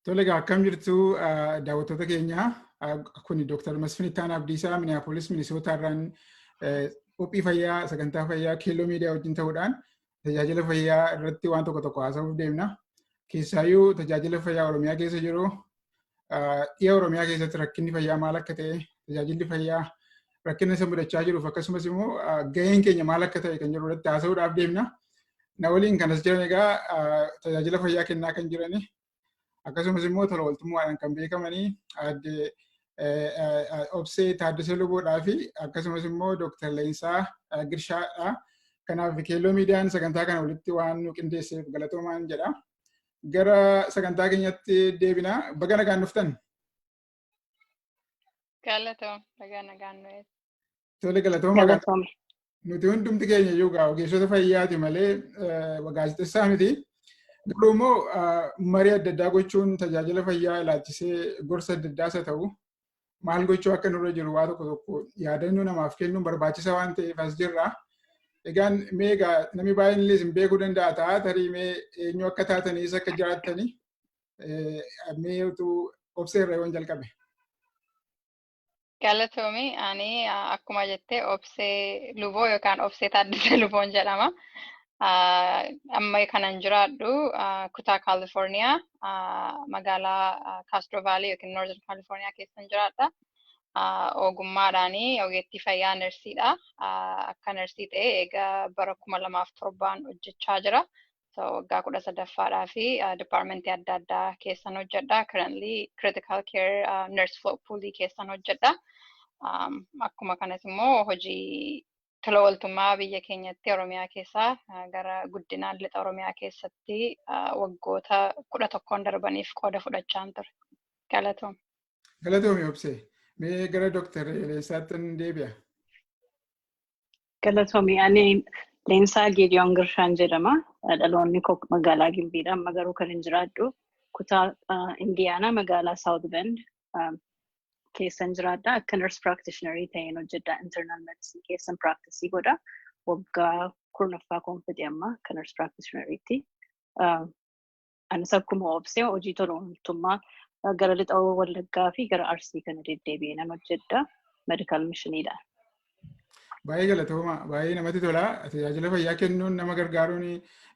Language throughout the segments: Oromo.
Tole egaa akkam jirtu daawwattoota keenya kun Dr. Masfin Ittaan Abdiisaa Minneapolis Minisootaarraan qophii fayyaa sagantaa fayyaa keelloo miidiyaa wajjin ta'uudhaan tajaajila fayyaa irratti waan tokko tokko haasa'uuf deemna. Keessaayyuu tajaajila fayyaa Oromiyaa keessa jiru dhiya Oromiyaa keessatti rakkinni fayyaa maal akka ta'e tajaajilli fayyaa rakkina isa mudachaa jiruuf akkasumas immoo gaheen keenya maal akka ta'e kan jiru irratti haasa'uudhaaf deemna. Na waliin kanas jiran egaa tajaajila fayyaa kennaa kan jirani Akkasumas immoo tola ooltummaadhaan kan beekamanii aadde Obsee Taaddasee Luboodhaa fi akkasumas immoo Dooktar Leensaa Girshaadha. Kanaaf keelloo miidiyaan sagantaa kana walitti waan nu qindeesseef galatoomaan jedha. Gara sagantaa keenyatti deebina. Baga nagaan dhuftan. Galatoom bagaa nagaan nu eessa. Tole galatooma kan Galatooma. nuti hundumti keenya iyyuu gaa ogeessota fayyaati malee eh, gaazexessaa miti. Garuu immoo ah, marii adda addaa gochuun tajaajila fayyaa ilaalchisee gorsa adda addaas haa ta'u maal gochuu akka nurra jiru waa tokko tokko yaadannoo namaaf kennuun barbaachisaa waan ta'eef as jirra. Egaan mee egaa namni baay'een illee isin beekuu danda'a ta'a tarii mee eenyu akka taatanii eessa akka jiraattanii mee utuu obsee irra yoon jalqabe. Galatoomi ani akkuma jettee obsee luboo yookaan obsee taaddisee luboon jedhama. Amma kanan jiraadhu kutaa Kaalifoorniyaa magaalaa Kaastro Vaalii yookiin Noorthern Kaalifoorniyaa keessan jiraadha. Ogummaadhaan ogeettii fayyaa narsiidha. Akka narsii ta'e egaa bara kuma lamaaf torbaan hojjechaa jira. So waggaa kudha sadaffaadhaa fi departmentii adda addaa keessan hojjedha. Currently critical care uh, nurse float pool keessan hojjedha. Um, akkuma kanas immoo hojii tola ooltummaa biyya keenyatti Oromiyaa keessaa uh, gara guddinaan lixa Oromiyaa keessatti uh, waggoota kudha tokkoon darbaniif qooda fudhachaan ture. Galatoom. Galatoomi obsee. Mee gara Dooktar Eleessaattin deebi'a. Galatoomii ani Leensaa Geediyoon Girshaan jedhama. Dhaloonni koo magaalaa Gimbiidha. Amma garuu kan hin jiraadhu kutaa Indiyaanaa magaalaa South Bend keessan jiraadha. Akka nurse practitioner ta'een hojjedha. Internal medicine keessan practice godha. Waggaa kurnaffaa koon fedhe amma akka nurse practitioner tti. Anis akkuma obsee hojii tola ooltummaa gara lixa Wallaggaa fi gara Arsii kana deddeebi'ee nan hojjedha. Medikaal mishiniidha. Baay'ee galatooma. Baay'ee namatti tola. Tajaajila fayyaa kennuun nama gargaaruun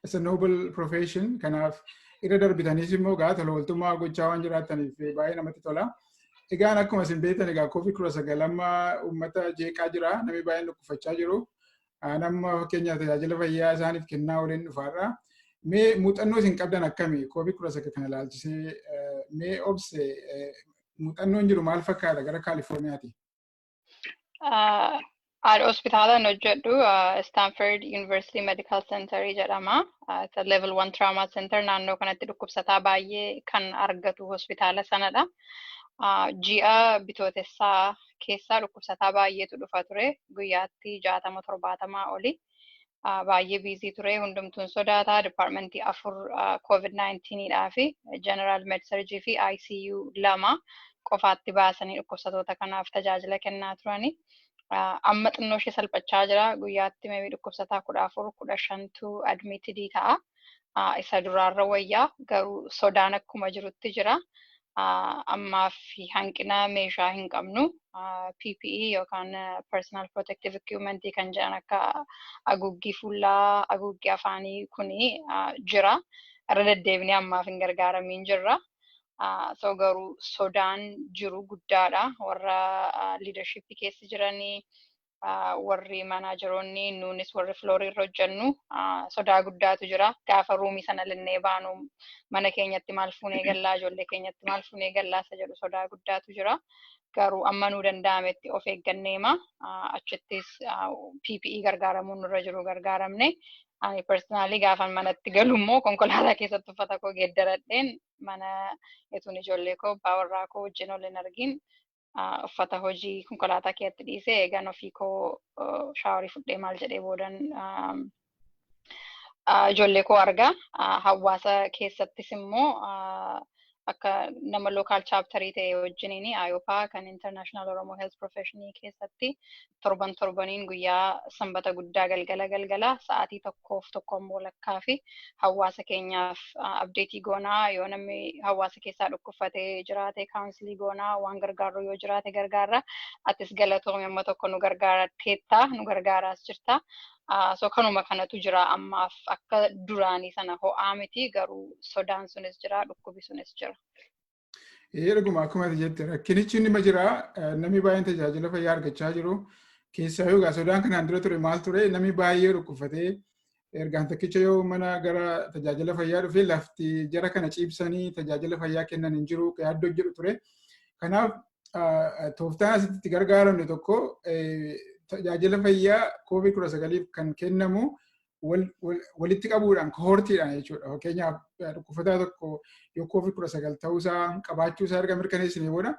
it's a noble profession. Kanaaf irra darbitaniis immoo gaa tola ooltummaa gochaa waan jiraattaniif baay'ee namatti tola. Egaan akkuma isin beektan egaa koovid kudha sagal amma uummata jeeqaa jira. Namni baay'een dhukkubfachaa jiru. Aan amma fakkeenyaaf tajaajila fayyaa isaaniif kennaa waliin dhufaadha. Mee muuxannoo isin qabdan akkami? Koovid kudha sagal kana ilaalchisee mee obse muuxannoon jiru maal fakkaata gara Kaalifoorniyaati? Haadha hospitaalaan hojjedhu Stanford University Medical Center jedhama. Isa level 1 trauma center naannoo kanatti dhukkubsataa baay'ee kan argatu hospitaala sanadha. Ji'a bitootessaa keessaa dhukkubsataa baay'eetu dhufa ture. Guyyaatti jaatama torbaatamaa oli baay'ee biizii ture. Hundumtuun sodaata. Dipaartmentii afur koovid 19 dhaa fi jeneraal medsarjii fi ICU lama qofaatti baasanii dhukkubsatoota kanaaf tajaajila kennaa turani. Amma xinnoo ishee salphachaa jira. Guyyaatti meebii dhukkubsataa kudha afur kudha shantu admitidii ta'a. isa duraarra wayya garuu sodaan akkuma jirutti jira. Ammaaf hanqina meeshaa hin qabnu. PPE yookaan Personal Protective Equipment kan jedhan akka haguuggii fuulaa, haguuggii afaanii kuni jira. Irra deddeebinee ammaaf hin gargaaramiin jirra. So garuu sodaan jiru guddaadha. Warra leadership keessa jiranii warri maanaajeroonni nuunis warri filoorii irra hojjennu sodaa guddaatu jira. Gaafa ruumii sana linnee baanu mana keenyatti maal fuunee gallaa ijoollee keenyatti maal fuunee gallaa isa jedhu sodaa guddaatu jira. Garuu amma nuu danda'ametti of eegganneema. Achittis PPE gargaaramuun nurra jiru gargaaramne. Ani personaalii gaafan manatti galu immoo konkolaataa keessatti uffata koo geeddaradheen mana etuun ijoollee koo abbaa warraa koo wajjin ol hin argin uffata hojii konkolaataa keessatti dhiisee eegan ofii koo shaaworii fudhee maal jedhee boodan ijoollee koo argaa hawaasa keessattis immoo akka nama lookaal chaaptarii ta'e wajjiniin ayopaa kan international oromoo health professionii keessatti torban torbaniin guyyaa sanbata guddaa galgala galgala sa'aatii tokkoof tokkoon walakkaa fi hawaasa keenyaaf abdeetii goonaa yoo namni hawaasa keessaa dhukkubfatee jiraate kaawunsilii goonaa waan gargaarru yoo jiraate gargaarra atis galatoomi amma tokko nu gargaarteetta nu gargaaraas jirta so kanuma kanatu jira ammaaf akka duraanii sana ho'aa miti garuu sodaan sunis jira dhukkubi sunis jira. Dhuguma akkuma jette rakkinichi inni jira namni baay'een tajaajila fayyaa argachaa jiru. Keessaa yoo egaa sodaan kanaan dura ture maal ture namni baay'ee dhukkubfatee ergaan tokkicha yoo mana gara tajaajila fayyaa dhufee lafti jara kana ciibsanii tajaajila fayyaa kennan hin jiru yaaddoo jedhu ture. Kanaaf tooftaan asitti itti gargaaramne tokko tajaajila fayyaa koovid kudha sagaliif kan kennamu walitti qabuudhaan kohortiidhaan jechuudha. Fakkeenyaaf dhukkubsataa tokko yoo koovid kudha sagal ta'uusaa qabaachuusaa erga mirkaneessinee booda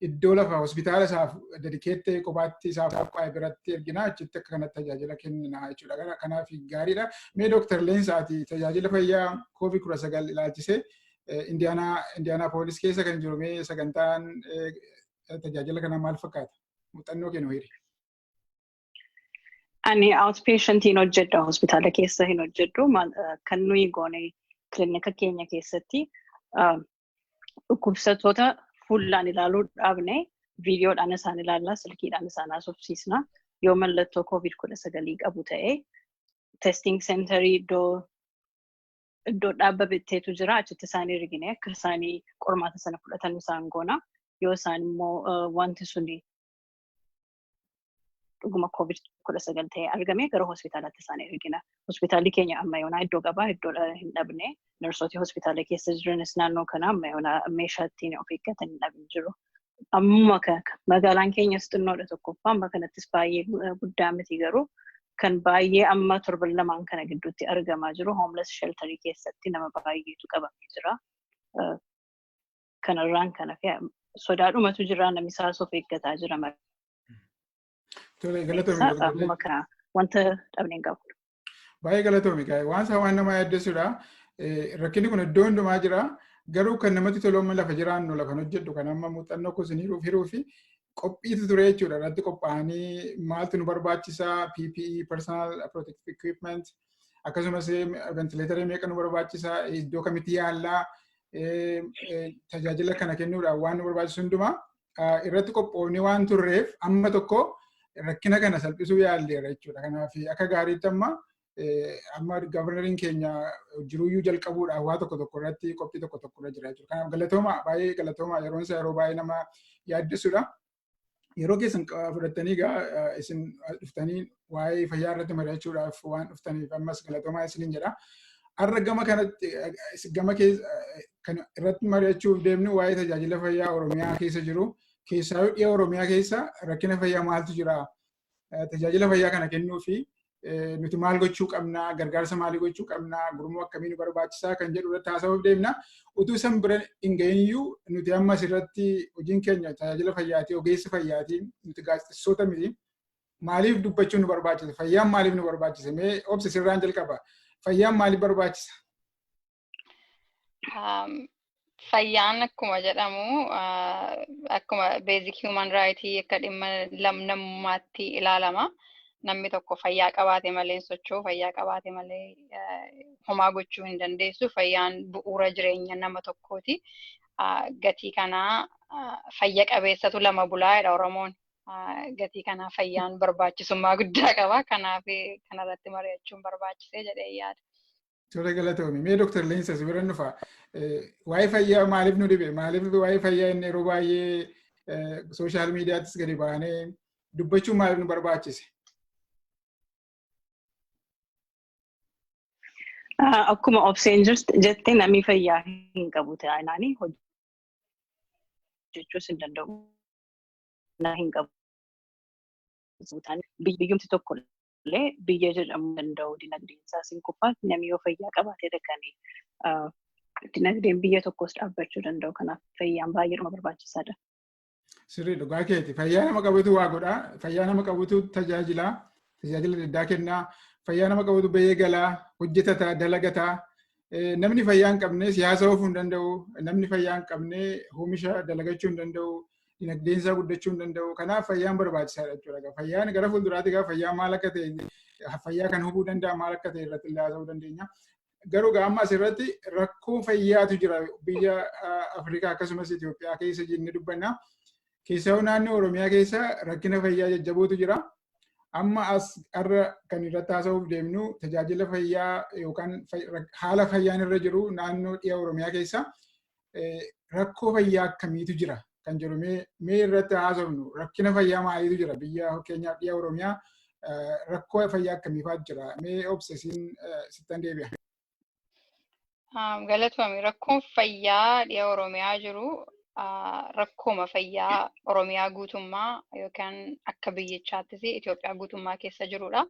iddoo lafa hospitaala isaaf dedikeettee kophaatti isaaf qophaa'e biratti erginaa achitti akka kanatti tajaajila kenninaa jechuudha. Kanaaf gaariidha. Mee dooktar Leensaati tajaajila fayyaa koovid kudha sagal ilaalchisee Indiyaanaa poolis keessa kan jiru mee sagantaan tajaajila kanaa maal fakkaata? Muuxannoo kennu hiri. Ani outpatientiin hojjedha hospitaala keessa hin hojjedhu kan nuyi goone kilinika keenya keessatti dhukkubsattoota fuullaan ilaaluu dhaabne viidiyoodhaan isaan ilaalla silkiidhaan isaan haasofsiisna yoo mallattoo koovid kudha sagalii qabu ta'e testing centerii iddoo iddoo dhaabba bitteetu jira achitti isaan ergine akka isaanii qormaata sana fudhatan isaan goona yoo isaan immoo wanti suni dhuguma covid kudha sagal ta'ee argame gara hospitaalaatti isaan ergina. Hospitaalli keenya amma yoonaa iddoo qabaa iddoo hin dhabne narsooti hospitaala keessa jiranis naannoo kana amma yoonaa meeshaa ittiin of eeggatan hin dhabne jiru. Ammuma kana magaalaan keenyas xinnoodha tokkoffaa amma kanattis baay'ee guddaa miti garuu kan baay'ee amma torban lamaan kana gidduutti argamaa jiru homeless shelterii keessatti nama baay'eetu qabamee jira. kanarraan kan hafe sodaadhumatu jira namni isaas of eeggataa jira malee. Tole galatoomi. Eegsisaa dhaabuma kana wanta dhabne hin qabu. Baay'ee galatoomi gaa'e waan isaa waan nama yaaddessudha. Rakkinni kun iddoo hundumaa jira. Garuu kan namatti tolu amma lafa jiraannu lafa hojjedhu kan amma muuxannoo kuusinii hiruu fi qophiitu ture jechuudha irratti qophaa'anii maaltu nu barbaachisa PPE personal protective equipment akkasumas ventileetarii meeqa nu barbaachisa iddoo kamitti yaallaa tajaajila kana kennuudhaan waan nu barbaachisu hundumaa irratti qophoofni waan turreef amma tokko rakkina kana salphisuu yaalleera jechuudha. Kanaaf akka gaariitti amma amma gabarnariin keenya jiruyyuu jalqabuudhaaf waa tokko tokko irratti qophii tokko tokko irra jira jechuudha. Kanaaf galatooma baay'ee galatooma yeroon isaa yeroo baay'ee nama yaaddessuudha. Yeroo keessan fudhattanii egaa isin dhuftanii waa'ee fayyaa irratti mari'achuudhaaf waan dhuftaniif ammas galatoomaa isiniin jedha. Har'a gama kanatti gama kan irratti mari'achuuf deemnu waa'ee tajaajila fayyaa Oromiyaa keessa jiru keessaa dhiyoo Oromiyaa keessa rakkina fayyaa maaltu jira? tajaajila fayyaa kana kennuu fi nuti maal gochuu qabna, gargaarsa maalii gochuu qabna, gurmuu akkamii nu barbaachisaa kan jedhu irratti haasa'uuf deemna. Utuu san bira hin ga'iyyuu nuti amma asirratti hojiin keenya tajaajila fayyaatii, ogeessi fayyaatii, nuti gaazexessoota miti. Maaliif dubbachuun nu barbaachisa? Fayyaan maaliif nu barbaachisa? Mee obsa sirraan jalqaba. Fayyaan maaliif barbaachisa? Fayyaan akkuma jedhamu akkuma basic human right akka dhimma namummaatti ilaalama. Namni tokko fayyaa qabaate malee hin socho'u, fayyaa qabaate malee homaa gochuu hin dandeessu. Fayyaan bu'uura jireenya nama tokkooti. Gatii kanaa fayya qabeessatu lama bulaa jedha Oromoon. Gatii kanaa fayyaan barbaachisummaa guddaa qaba. Kanaaf kanarratti mari'achuun barbaachisee jedhee yaada. Tole galatoomi. Mee Dr. Leensa si bira nufa. Waa'ee fayyaa maaliif nu dhibe? Maaliif waa'ee fayyaa inni yeroo baay'ee sooshaal miidiyaattis gadi baanee dubbachuun maaliif nu barbaachise? Akkuma obseen jette namni fayyaa hin qabu taanaan hojjechuus hin danda'u. Hin qabu. Biyyumti tokko illee biyya jedhamuu danda'u dinagdeen isaas hin kufaa namni yoo fayyaa qabaatedha kan dinagdeen biyya tokkos dhaabbachuu danda'u kanaaf fayyaan baay'eedhuma barbaachisaadha. Sirrii dhugaa keeti fayyaa nama qabutu waa godhaa fayyaa nama qabutu tajaajilaa tajaajila addaa kennaa fayyaa nama qabutu bahee galaa hojjetataa dalagataa namni fayyaa hin qabne siyaasa oofuu hin danda'u, namni fayyaa hin qabne oomisha dalagachuu hin danda'u, dinagdeen isaa guddachuu hin danda'u. Kanaaf fayyaan barbaachisaadha jechuudha. Fayyaan gara fuulduraatti gara fayyaa maal akka ta'e fayyaa kan hubuu danda'a maal akka ta'e irratti illee haasa'uu dandeenya. Garuu gaamma asirratti rakkoo fayyaatu jira biyya Afrikaa akkasumas Itoophiyaa keessa jennee dubbanna. Keessaa naannoo Oromiyaa keessa rakkina fayyaa jajjabootu jira. Amma as har'a kan irratti haasa'uuf deemnu tajaajila fayyaa yookaan haala fayyaan irra jiru naannoo dhiha Oromiyaa keessa rakkoo fayyaa akkamiitu jira kan jedhu mee irratti haasofnu rakkina fayyaa maaliitu jira biyya fakkeenyaaf dhiha Oromiyaa rakkoo fayyaa akkamiifaatu jira mee obsesiin sittan deebi'a. Um, Galatoomi rakkoon fayyaa dhiya Oromiyaa jiru ah, rakkooma fayyaa Oromiyaa guutummaa yookaan akka biyyichaattis Itoophiyaa guutummaa keessa jirudha.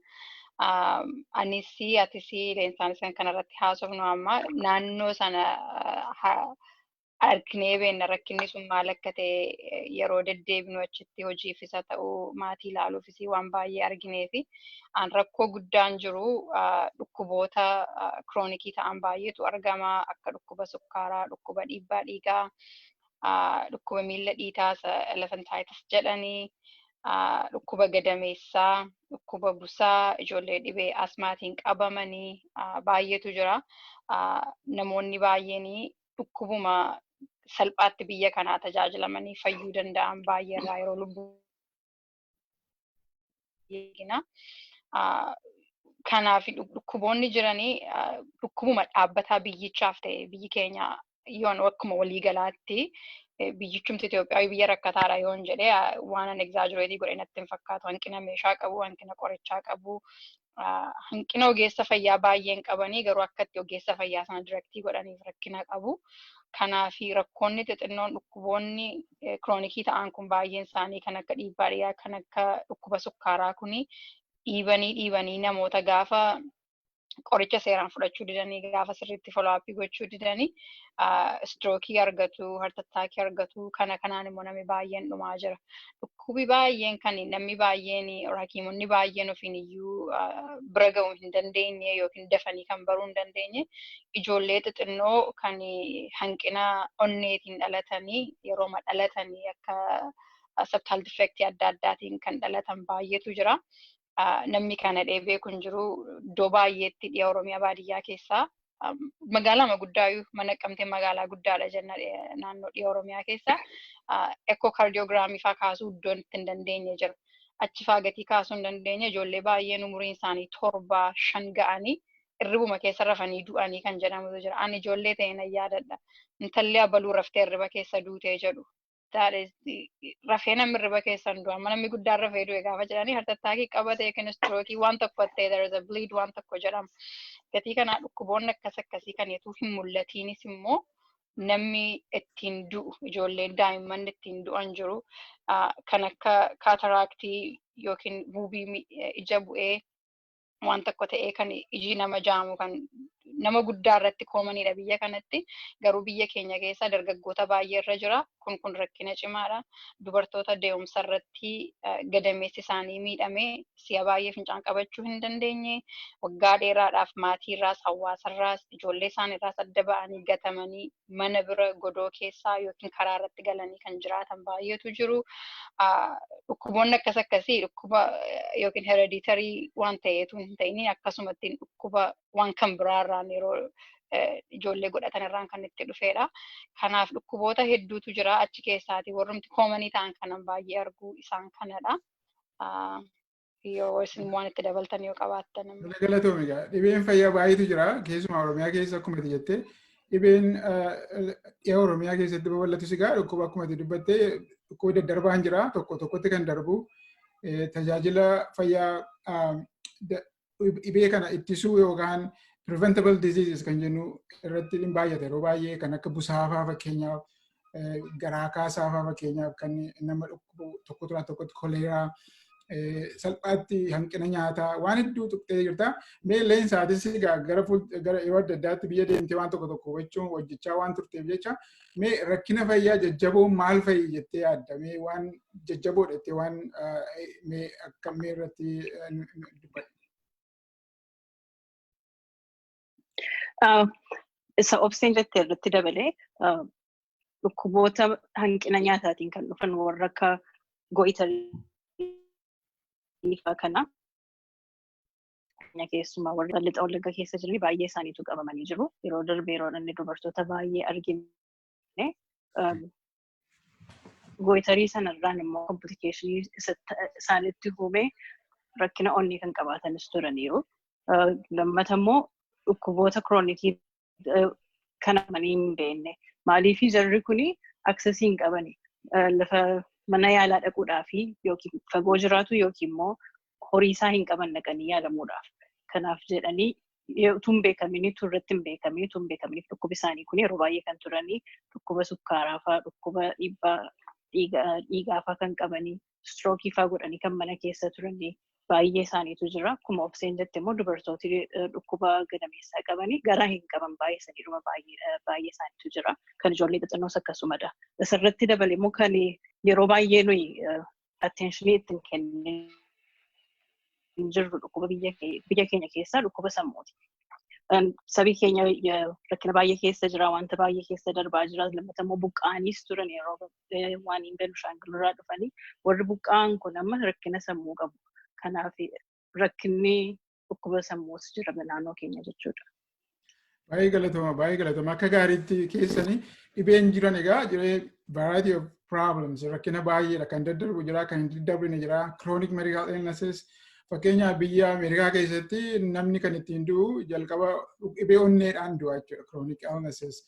Um, Anis atis leensaan isaan kanarratti haasofnu amma naannoo sana ah, ha- arginee beenna rakkinni sun maal akka ta'e eh, yeroo deddeebinu achitti hojiifis haa ta'u maatii ilaaluufis waan baay'ee arginee fi an rakkoo guddaan jiru ah, dhukkuboota ah, kiroonikii ta'an baay'eetu argama akka dhukkuba sukkaaraa, dhukkuba dhiibbaa dhiigaa, ah, dhukkuba miila dhiitaa isa elephantaayitis jedhanii, ah, dhukkuba gadameessaa, dhukkuba busaa, ijoollee dhibee asmaatiin qabamanii ah, baay'eetu jira. Ah, Namoonni baay'een dhukkubuma salphaatti biyya kanaa tajaajilamanii fayyuu danda'an baay'ee irraa yeroo lubbuu eegina. Kanaaf dhukkuboonni jiranii dhukkubuma dhaabbataa biyyichaaf ta'e biyyi keenya yoon akkuma waliigalaatti biyyichumti Itoophiyaa biyya rakkataadha yoon jedhee waan an egzaajireetii godhe natti hin fakkaatu. Hanqina meeshaa qabu, hanqina qorichaa qabu, hanqina ogeessa fayyaa baay'een qabanii garuu akkatti ogeessa fayyaa sana diraktii godhaniif rakkina qabu. Kanaaf rakkoonni xixinnoon dhukkuboonni kiroonikii ta'an kun baay'een isaanii kan akka dhiibbaa dhiigaa kan akka dhukkuba sukkaaraa kun dhiibanii dhiibanii namoota gaafa qoricha seeraan fudhachuu didanii gaafa sirriitti foloo'aappii gochuu didanii istirookii argatu, hartattaakii argatu kana kanaan immoo namni baay'een dhumaa jira. dhukkubi baay'een kan namni baay'een or hakiimonni baay'een ofiin iyyuu ah, bira ga'uu hin dandeenye yookiin dafanii kan baruu hin dandeenye ijoollee xixinnoo kan hanqina onneetiin dhalatanii yerooma dhalatanii akka sabtaal difeektii adda addaatiin kan dhalatan baay'eetu jira. namni kana dhee beeku hin jiru. Iddoo baay'eetti dhiya Oromiyaa baadiyyaa keessaa magaalaa guddaa mana qabtee magaalaa guddaadha jenna naannoo dhiya Oromiyaa keessaa ekkoo kaardiyoogiraamii faa kaasuu iddoon itti hin dandeenye jira. Achi faa gatii kaasuu hin dandeenye ijoollee baay'een umuriin isaanii torba shan ga'anii irribuma keessa rafanii du'anii kan jedhamutu jira. Ani ijoollee ta'e nan yaadadha. Intalli abaluu raftee irriba keessa duutee jedhu. that is rafee namni hirriba keessan du'a amma namni guddaan rafee du'e gaafa jedhanii hartattaakii qabate yookiin istrookii waan tokko ta'e there is a bleed waan tokko jedhama. Gatii kanaa dhukkuboonni akkas akkasii kan eetuu hin mul'atiinis immoo namni ittiin du'u ijoolleen daa'imman ittiin du'an jiru kan akka kaataraaktii yookiin buubii ija bu'ee waan tokko ta'ee kan ijii nama jaamu kan nama guddaa irratti koomaniidha biyya kanatti garuu biyya keenya keessa dargaggoota baay'ee irra jira kun kun rakkina cimaadha dubartoota deemsa irratti gadameessi isaanii miidhamee si'a baay'ee fincaan qabachuu hin dandeenye waggaa dheeraadhaaf maatiirraas hawaasarraas ijoollee isaaniirraas adda ba'anii gatamanii mana bira godoo keessaa yookiin karaa irratti galanii kan jiraatan baay'eetu jiru. Dhukkuboonni akkas akkasii dhukkuba yookiin hereditarii waan ta'eetu hin ta'in akkasumatti dhukkuba waan kan biraa irraan yeroo ijoollee godhatan irraan kan itti dhufeedha. Kanaaf dhukkuboota hedduutu jira achi keessaati warrumti koomanii ta'an kanan baay'ee arguu isaan kanadha. yoo isin waan itti dabaltan yoo qabaattan immoo. Kana galatoomi egaa dhibeen fayyaa baay'eetu jira keessumaa Oromiyaa keessa akkuma ati jettee dhibeen eh, dhiha Oromiyaa keessatti babal'atus egaa dhukkuba akkuma ati dubbattee dhukkuba daddarbaan jira tokko tokkotti kan darbu eh, tajaajila fayyaa ah, da- dhibee kana ittisuu yookaan preventable diseases kan jennu irratti hin baay'ata yeroo baay'ee kan akka busaafaa fakkeenyaaf garaa kaasaa fa'aa fakkeenyaaf kan nama dhukkubu tokko turaa tokkotti koleeraa salphaatti hanqina nyaataa waan hedduu tuqxee jirta. Mee leensaatis egaa gara gara yeroo adda addaatti biyya deemtee waan tokko tokko hubachuun hojjechaa waan turteef jecha mee rakkina fayyaa jajjaboo maal fa'i jettee yaadda mee waan jajjaboo jettee waan mee akkamii irratti dubbadha. Isa obseen jettee irratti dabalee dhukkuboota hanqina nyaataatiin kan dhufan warra akka go'itarii fa'aa kana keessumaa warra lixa wallagga keessa jiran baay'ee isaaniitu qabamanii jiru. Yeroo darbe yeroo inni dubartoota baay'ee argine gooyitarii sanarraan immoo komplikeeshinii isaanitti uumee rakkina onnee kan qabaatanis turaniiru. Lammata immoo dhukkuboota kiroonikii kan amanii hin beekne. Maaliif jarri kun aksesii hin qabani. Lafa mana yaalaa dhaquudhaaf yookiin fagoo jiraatu yookiin immoo horii isaa hin qaban dhaqanii yaalamuudhaaf. Kanaaf jedhanii utuu hin beekamiin utuu irratti hin beekamiin utuu hin beekamiin dhukkubi isaanii kun yeroo baay'ee kan turanii dhukkuba sukkaaraa fa'aa dhukkuba dhiibbaa dhiigaa fa'aa kan qabanii istrookii fa'aa godhanii kan mana keessa turanii baay'ee isaaniitu jira. Akkuma obseen jette immoo dubartooti dhukkuba gadameessaa qabanii garaa hin qaban baay'ee saniidhuma baay'ee isaaniitu jira. Kan ijoollee xixinnoos akkasumadha. Isarratti dabalee immoo kan yeroo baay'ee nuyi attentionii itti hin kennine hin jirru dhukkuba biyya kee- biyya keenya keessaa dhukkuba sammuuti. Em, Sabii keenya eh, rakkina baay'ee keessa jira, wanta baay'ee keessa darbaa jira, lammata immoo buqqa'aniis turan yeroo eh, waan hin Benishaangul irraa dhufanii warri buqqa'an kun amma rakkina sammuu qabu. Kanaaf rakkinni dhukkuba sammuus jira naannoo keenya jechuudha. Baay'ee galatama, baay'ee galatama. Akka gaariitti keessanii dhibeen jiran egaa jiree variety of problems rakkina baay'eedha kan daddarbu jira kan hin daddarbu jira chronic medical illnesses fakkeenyaaf biyya Ameerikaa keessatti namni kan ittiin du'u jalqaba dhibee onneedhaan du'a jechuudha chronic illnesses.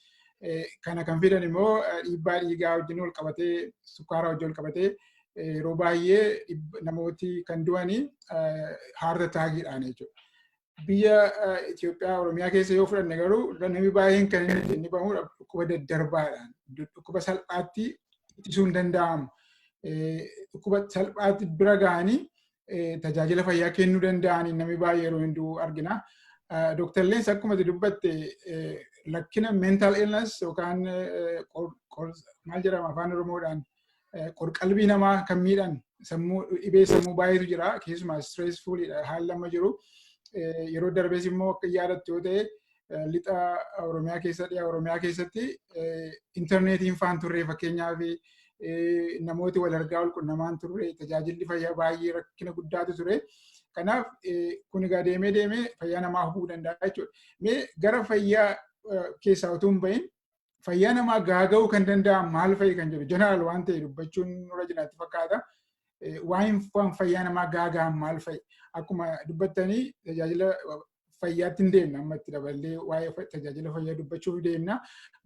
Kana kan fidan immoo dhiibbaa dhiigaa wajjin wal qabatee sukkaara wajjin wal qabatee yeroo baay'ee namooti kan du'anii heart attackiidhaan jechuudha. Biyya Itoophiyaa Oromiyaa keessa yoo fudhanne garuu namni baay'een kan inni bahu dhukkuba daddarbaadhaan dhukkuba salphaatti ittisuu hin danda'amu. Dhukkuba salphaatti bira ga'anii tajaajila fayyaa kennuu danda'anii namni baay'ee yeroo hin du'u argina. Dooktar Leensa akkuma dubbatte rakkina mental illness yookaan maal jedhama afaan Oromoodhaan qorqalbii namaa kan miidhan sammuu dhibee sammuu baay'eetu jira keessumaa stressful haalli amma jiru yeroo darbees immoo akka yaadattu yoo ta'e lixa Oromiyaa keessa dhiyaa Oromiyaa keessatti intarneetiin faan turre fakkeenyaa fi namooti wal argaa wal qunnamaan turre tajaajilli fayyaa baay'ee rakkina guddaatu ture. Kanaaf kun egaa deemee deemee fayyaa namaa hubuu danda'a jechuudha. Mee gara fayyaa keessaa utuu hin bahin fayyaa namaa gaaga'uu kan danda'an maal fa'i kan jedhu jeneraal waan ta'e dubbachuun nurra jiraatti fakkaata. Waa'een fayyaa namaa gaaga'an maal fa'i? Akkuma dubbattanii tajaajila fayyaatti hin deemna amma itti daballee waa'ee tajaajila fayyaa dubbachuuf deemna.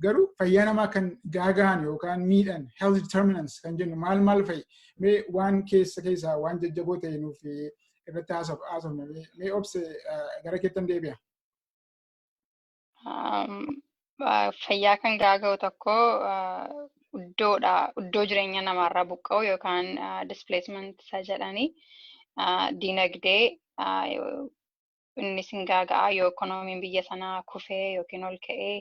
Garuu fayyaa namaa kan gaaga'an yookaan miidhan health determinants kan jennu maal maal fa'i? Mee waan keessa keessaa waan jajjaboo ta'e nuuf irratti haasofna. Mee obse gara keettan deebi'a. Fayyaa kan gaaga'u tokko iddoodha. Iddoo jireenya namaarraa buqqa'u yookaan displacement isa jedhanii diinagdee innis hin gaaga'a yoo ikoonomiin biyya sanaa kufee yookiin ol ka'ee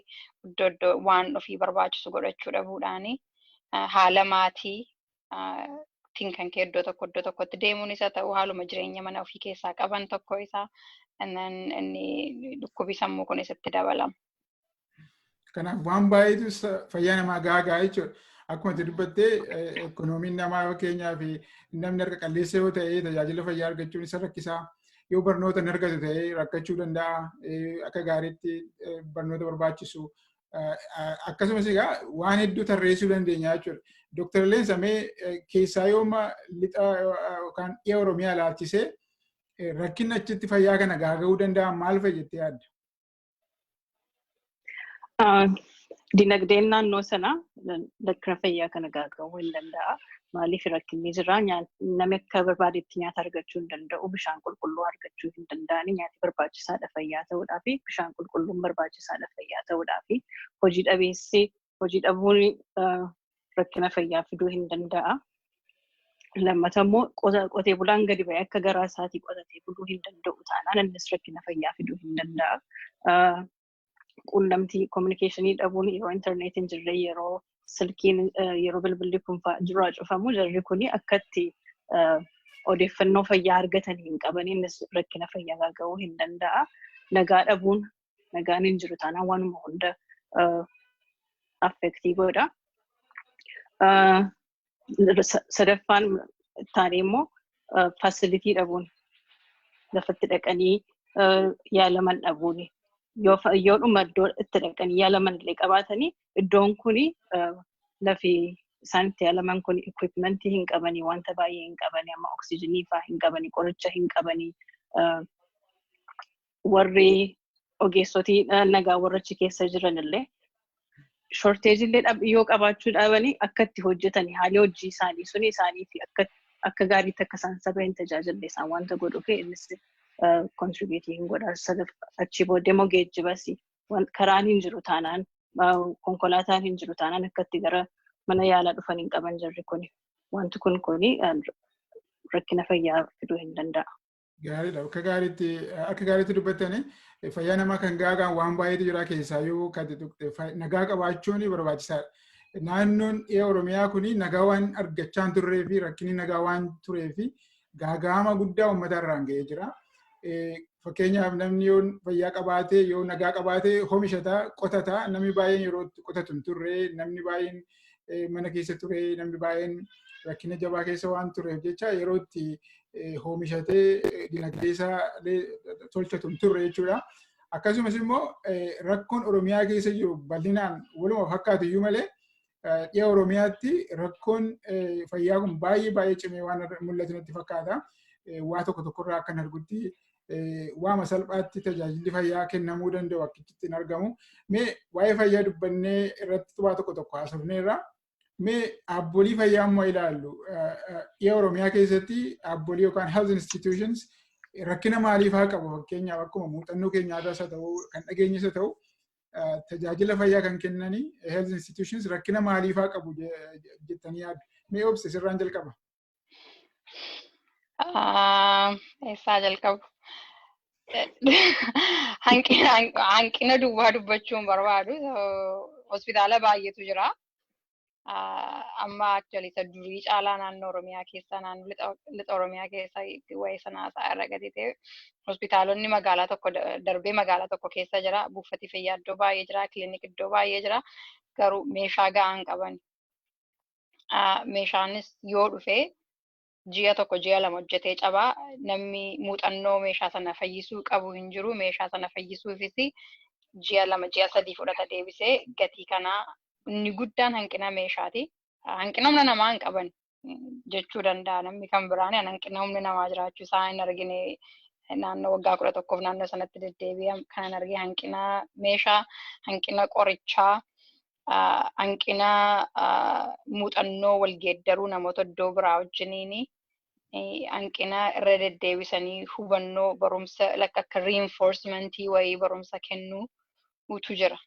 iddoo iddoo waan ofii barbaachisu godhachuu dhabuudhaani haala maatii tiin kan ka'e iddoo tokko iddoo tokkotti deemuun isa ta'u haaluma jireenya mana ofii keessaa qaban tokko isaa inni dhukkubi sammuu kun isatti dabalama. Kanaaf waan baay'eetu fayyaa namaa gaagaa jechuudha. Akkuma itti dubbattee ekonomiin namaa yoo keenyaa fi namni harka qalleessa yoo ta'e tajaajila fayyaa argachuun isa rakkisaa. Yoo barnoota hin argatu ta'e rakkachuu danda'a. Akka gaariitti barnoota barbaachisu akkasumas egaa waan hedduu tarreessuu dandeenya jechuudha. Dooktar Leensa mee keessaa yooma lixa yookaan dhiya Oromiyaa ilaalchisee rakkinni achitti fayyaa kana gaaga'uu danda'an maal fa'i jettee yaadda? Dinagdeen naannoo sanaa rakkina fayyaa kana gaaga'uu hin danda'a. Maaliif rakkinni jira? Namni akka barbaadetti nyaata argachuu hin danda'u, bishaan qulqulluu argachuu hin danda'ani. Nyaati barbaachisaadha fayyaa ta'uudhaaf, bishaan qulqulluun barbaachisaadha fayyaa ta'uudhaaf. Hojii dhabeessi hojii dhabuun rakkina fayyaa fiduu hin danda'a. Lammata immoo qotee bulaan gadi ba'ee akka garaa isaatii qotatee buluu hin danda'u taanaan innis rakkina fayyaa fiduu hin danda'a. quunnamtii kominikeeshinii dhabuun yeroo intarneetii hin jirre yeroo silkiin yeroo bilbilli kun duraa cufamu jarri kun akkatti odeeffannoo fayyaa argatan hin qaban innis rakkina fayyaa ga'uu hin danda'a. Nagaa dhabuun nagaan hin jiru taanaan waanuma hunda affektii godha. sadaffaan taanee immoo faasilitii dhabuun lafatti dhaqanii yaalaman dhabuun yoo dhuma iddoo itti dhaqanii yaalaman illee qabaatanii iddoon kun lafi isaan itti yaalaman kun equipmentii hin qabanii wanta baay'ee hin qabanii amma oksijinii fa'aa hin qabanii qoricha hin qabanii warri ogeessotii nagaa warra achi keessa jiran illee shorteejii illee dhab- yoo qabaachuu dhaabanii akka itti hojjetan haalli hojii isaanii suni isaanii fi akka akka gaariitti akka isaan saba hin tajaajille isaan wanta godhuu fi innis kontribiitii hin godha sadaf achii booddee immoo geejjibas wan- karaan hin jiru taanaan ah, konkolaataan hin jiru taanaan akka itti gara mana yaalaa dhufan hin qaban jirri kuni wanti kun kuni ah, rakkina fayyaa fiduu hin danda'a. Gaariidha. Akka gaariitti akka gaariitti dubbattanii fayyaa namaa kan gaagaan waan baay'eetu jira keessaa yoo kan tuqte nagaa qabaachuun barbaachisaadha. Naannoon dhiya Oromiyaa kun nagaa waan argachaa hin turree fi rakkinni nagaa waan turee fi gaaga'ama guddaa uummata irraan ga'ee jira. Fakkeenyaaf namni yoo fayyaa qabaatee yoo nagaa qabaatee homishataa qotataa namni baay'een yeroo qotatu hin turree namni baay'een mana keessa ture namni baay'een rakkina jabaa keessa waan tureef jecha yeroo itti hoomishatee dinagdee isaa tolchatu hin turre jechuudha. Akkasumas immoo rakkoon Oromiyaa keessa jiru bal'inaan waluma fakkaatu iyyuu malee dhiya Oromiyaatti rakkoon fayyaa kun baay'ee baay'ee cimee waan mul'atu natti fakkaata. Waa tokko tokkorraa akkan argutti waama salphaatti tajaajilli fayyaa kennamuu danda'u akkitti hin argamu. Mee waa'ee fayyaa dubbannee irratti xubaa tokko tokko haasofneerra. Mee dhaabbolii fayyaa immoo ilaallu. Dhiya Oromiyaa keessatti dhaabbolii yookaan health institutions rakkina maalii fa'aa qabu fakkeenyaaf akkuma muuxannoo keenyaa irraas haa ta'u kan dhageenyas haa ta'u tajaajila fayyaa kan kennanii health institutions rakkina maalii fa'aa qabu jettanii yaaddu. Mee obse sirraan jalqaba. Ah, Eessaa jalqabu? Hanqina hanqina duwwaa dubbachuu hin barbaadu. So, Hospitaala baay'eetu jira. Ah, Amma actually isa durii caalaa naannoo Oromiyaa keessa naannoo lixa lixa Oromiyaa keessa waa'ee sana haasa'aa irra gadi ta'e hospitaalonni magaalaa tokko da- darbee magaalaa tokko keessa jira. Buufati fayyaa iddoo baay'ee jira. Kilinik iddoo baay'ee jira. Garuu meeshaa gahaa hin qaban. meeshaanis yoo dhufe ji'a tokko ji'a lama hojjetee cabaa namni muuxannoo meeshaa sana fayyisuu qabu hin jiru meeshaa sana fayyisuufis ji'a lama ji'a sadii fudhata deebisee gatii kanaa inni guddaan hanqina meeshaati. Hanqina humna namaa hin qaban jechuu danda'a namni kan biraan hanqina humna namaa jiraachuu isaa hin argine naannoo waggaa kudha tokkoof naannoo sanatti deddeebi'an kanan argee hanqina meeshaa hanqina qorichaa hanqina muuxannoo wal geeddaruu namoota iddoo biraa wajjiniini hanqina irra deddeebisanii hubannoo barumsa like akka reinforcement wayii barumsa kennuu utu jira.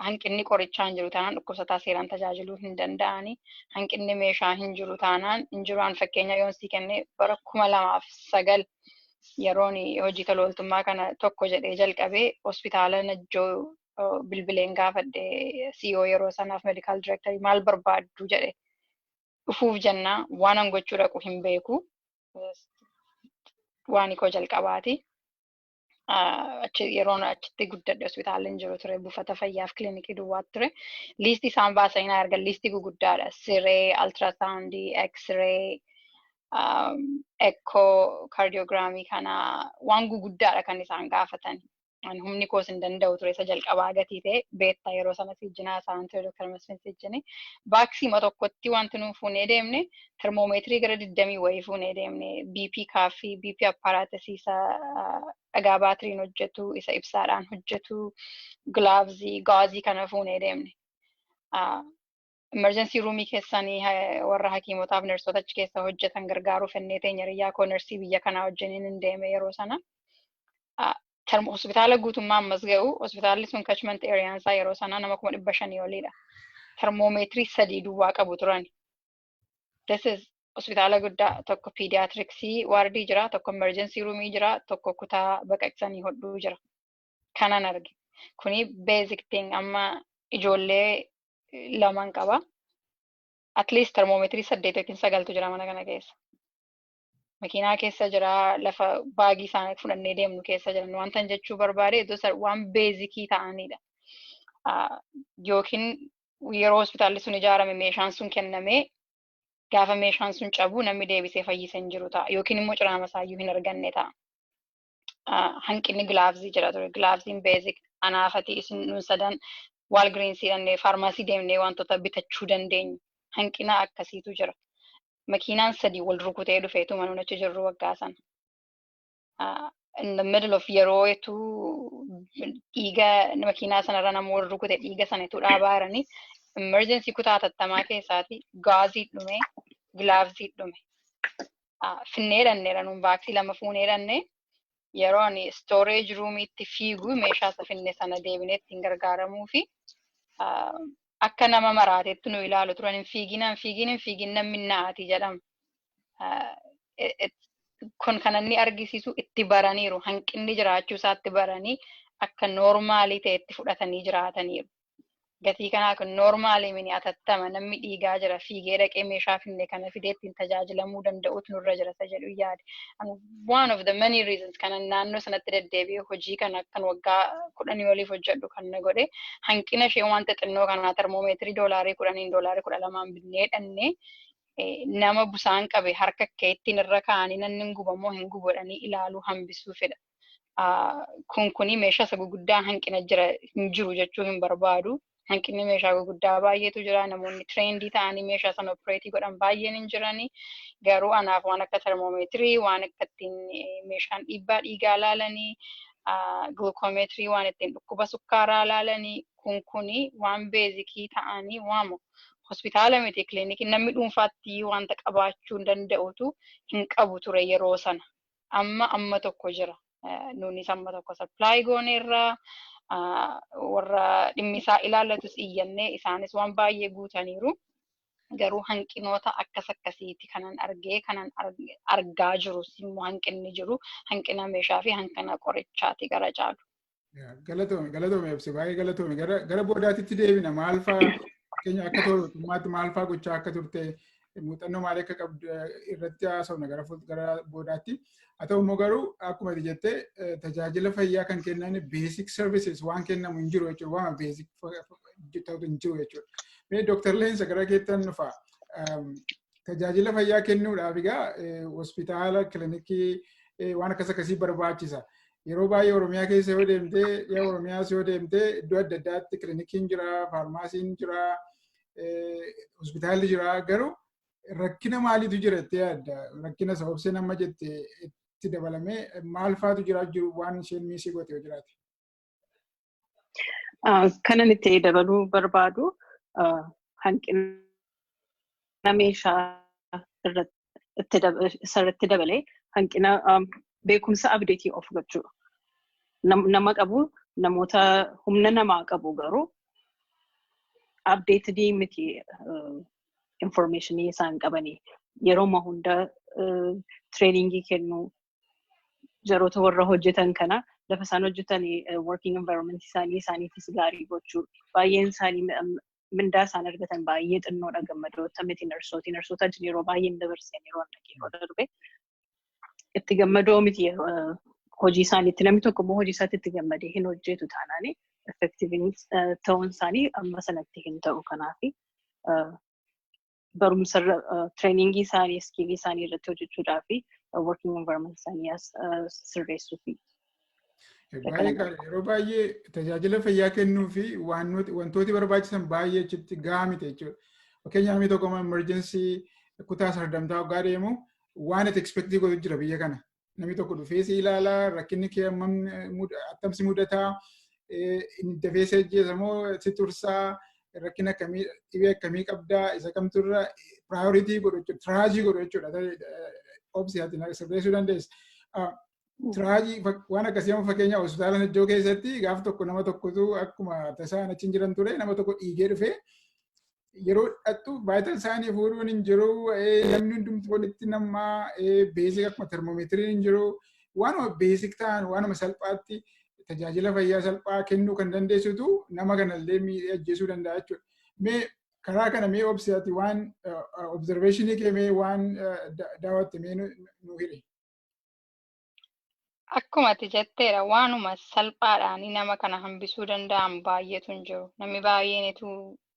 Hanqinni qorichaa hin jiru taanaan dhukkubsataa seeraan tajaajiluu hin danda'ani. Hanqinni meeshaa hin jiru taanaan hin jiru an fakkeenya yoon sii kenne bara kuma lamaaf sagal yeroon hojii tolooltummaa kana tokko jedhee jalqabee hospitaala Najjoo bilbileen gaafadhe CEO yeroo sanaaf medical director maal barbaaddu jedhe dhufuuf jennaa waan an gochuu dhaqu hin beeku waan koo jalqabaati. Yeroon achitti guddadhe hospitaala hin jiru ture buufata fayyaaf kilinikii duwwaa ture. Liistii isaan baasan hin argan liistii guguddaadha. Siree, altiraasaawundii, eksiree, ekkoo, kaardiyoogiraamii kana waan guguddaadha kan isaan gaafatan. an humni koos hin danda'u ture isa jalqabaa gatii ta'e beetta yeroo sana siijjinaa isaan ture Dr. Masfin siijjini baaksiima tokkotti wanti nuun fuunee deemne termoomeetirii gara digdamii wayii fuunee deemne BP kaaffii BP appaaraatisii isa dhagaa baatiriin hojjetu isa ibsaadhaan hojjetu gilaavzii gaazii kana fuunee deemne. emergency roomii keessanii ha- warra hakiimotaaf nersoota achi keessa hojjetan gargaaruu fennee teenya hiriyyaa koo nersii biyya kanaa wajjiniin hin deeme yeroo sana. Ah, term- Hospitaala guutummaa ammas ga'u hospitaalli sun catchment area isaa yeroo sanaa nama kuma dhibba shanii oliidha. Termoomeetirii sadii duwwaa qabu turan. This is hospitaala guddaa tokko pediatricsii waardii jira, tokko emergency roomii jira, tokko kutaa baqaqsanii hodhuu jira. kanan arge kuni basic thing amma ijoollee laman qaba at least termoomeetirii saddeet yookiin sagaltu jira mana kana keessa makiinaa keessa jira lafa baagii isaanii fudhannee deemnu keessa jiran wantan jechuu barbaade iddoo isa waan beezikii ta'anidha Ah, yookiin yeroo hospitaalli sun ijaarame meeshaan sun kennamee gaafa meeshaan sun cabu namni deebisee fayyise hin jiru ta'a yookiin immoo ciraama isaayyuu hin arganne ta'a. hanqinni gilaavzii jira ture. Gilaavziin beezik anaafatii isin nun sadan waalgiriinsii dhannee faarmaasii deemnee wantoota bitachuu dandeenyu. Hanqina akkasiitu jira. Makiinaan sadii wal rukutee dhufeetuma nun achi jirru waggaa sana. In the middle of yeroo etu dhiiga makiinaa sanarra nama wal rukute dhiiga sana etu dhaabaa jiranii emergency kutaa hatattamaa keessaati gaazii dhume gilaavzii dhume. finnee dhanneera nuun vaaksii lama fuunee dhanne yeroo ani storage ruumiitti fiiguu meeshaa isa finne sana deebinee ittiin gargaaramuu fi akka nama maraateetti nu ilaalu turan hin fiigin hin fiigin hin fiigin namni na'aati jedhama. Kun kan inni argisiisu itti baraniiru hanqinni jiraachuu isaatti baranii akka noormaalii ta'etti fudhatanii jiraataniiru. gatii kanaa kun noormaalii mini atattama namni dhiigaa jira fiigee dhaqee meeshaa finne kana fidee ittiin tajaajilamuu danda'utu nurra jira isa jedhu yaade. And one of the many reasons kana naannoo sanatti deddeebi'ee hojii kana kan waggaa kudhanii oliif hojjedhu kan na godhe hanqina ishee wanta xinnoo kanaa termoomeetirii doolaarii kudhaniin doolaarii kudha lamaan binnee dhannee nama busaan qabe harka keettiin irra kaa'anii nanni hin gubamoo hin gubodhanii ilaaluu hambisuufidha. kun kuni meeshaa isa guguddaa hanqina jira hin jiru jechuu hin barbaadu. Hanqinni meeshaa guguddaa baay'eetu jira. Namoonni tireendii ta'anii meeshaa sana opereetii godhan baay'een hin jirani. Garuu anaaf waan akka termoomeetirii, waan akka ittiin meeshaan dhiibbaa dhiigaa laalanii, gilukoomeetirii waan ittiin dhukkuba sukkaaraa laalanii kun kuni waan beezikii ta'anii waamu. Hospitaala miti kilinikii namni dhuunfaatti wanta qabaachuu danda'utu hin qabu ture yeroo sana. amma amma tokko jira. Nuunis amma tokko supply gooneerra. Warra dhimmi isaa ilaallatus iyyannee isaanis waan baay'ee guutaniiru. Garuu hanqinoota akkas akkasiiti kanan argee kanan argaa jirus immoo hanqinni jiru hanqina meeshaa fi hanqina qorichaati gara caalu. Galatoomi galatoomi ibsi baay'ee galatoomi gara boodaatitti deebina maal fa'a fakkeenya akka to'atummaatti maal fa'a gochaa akka turte muuxannoo maalii akka qabdu irratti haasofna gara gara boodaatti. Haa ta'u immoo garuu akkuma ati jette tajaajila fayyaa kan kennan basic services waan kennamu hin jiru jechuudha waan basic ta'u hin jiru jechuudha. Mee Dr. Leensa gara keettan dhufa. Tajaajila fayyaa kennuudhaaf egaa hospitaala, kilinikii waan akkas akkasii barbaachisa. Yeroo baay'ee Oromiyaa keessa yoo deemte, dhiya Oromiyaas yoo deemte iddoo adda addaatti kilinikiin jira, faarmaasiin jira, hospitaalli jira. Garuu rakkina maaliitu jira itti yaadda? Rakkina sababsee nama jette itti dabalamee maal faatu jira jiru waan isheen miisii gootee jiraate? Kanan itti dabaluu barbaadu hanqina meeshaa irratti dabalee hanqina beekumsa abdeetii of gochuu nama qabu namoota humna namaa qabu garuu abdeetidii miti informeeshinii isaan qabanii yeroo hunda tireeningii kennuu jaroota warra hojjetan kana lafa isaan hojjetan working environment isaanii isaaniifis gaarii gochuu baay'een isaanii mindaa isaan argatan baay'ee xinnoodha gammadoota miti narsooti narsoota ajin yeroo baay'een dabarseen yeroo yeroo darbe itti gammadoo miti hojii isaaniitti namni tokko immoo hojii isaatti itti gammadee hin hojjetu taanaan effektiivin ta'uun isaanii amma sanatti hin ta'u kanaafi barumsa tireeningii isaanii iskiilii isaanii irratti hojjechuudhaa fi working environment isaanii sirreessuu fi. Baay'ee gaariidha. Yeroo baay'ee tajaajila fayyaa kennuu fi wantooti barbaachisan baay'ee achitti gahaa miti jechuudha. Fakkeenyaaf namni tokko emerjensii kutaa sardamtaa waggaa deemu waan ati ekspeektii godhu jira biyya kana. namni tokko dhufee si ilaala rakkinni kee hammam attam si mudataa dafee si ajjeesa moo si tursaa rakkina akkamii dhibee akkamii qabdaa isa kamtu irra piraayoritii godhu jechuudha tiraajii godhu jechuudha obsi ati sirreessuu dandeessa. Tiraajii waan akkasii amma fakkeenyaa hospitaala Najjoo keessatti gaaf tokko nama tokkotu akkuma tasaan achi hin jiran ture nama tokko dhiigee dhufee yeroo dhaqxu baayital saayinii fuudhuun hin jiru namni hundumti walitti nama beesik akkuma termoomeetiriin hin jiru waanuma beesik ta'an waanuma salphaatti tajaajila fayyaa salphaa kennuu kan dandeessitu nama kanallee miidhee ajjeesuu danda'a jechuudha. Mee karaa kana mee obsiyaati waan observeeshinii kee mee waan daawwatte mee nu hire. Akkuma ati jetteedha waanuma salphaadhaan nama kana hambisuu danda'an baay'eetu hin jiru. Namni baay'een etuu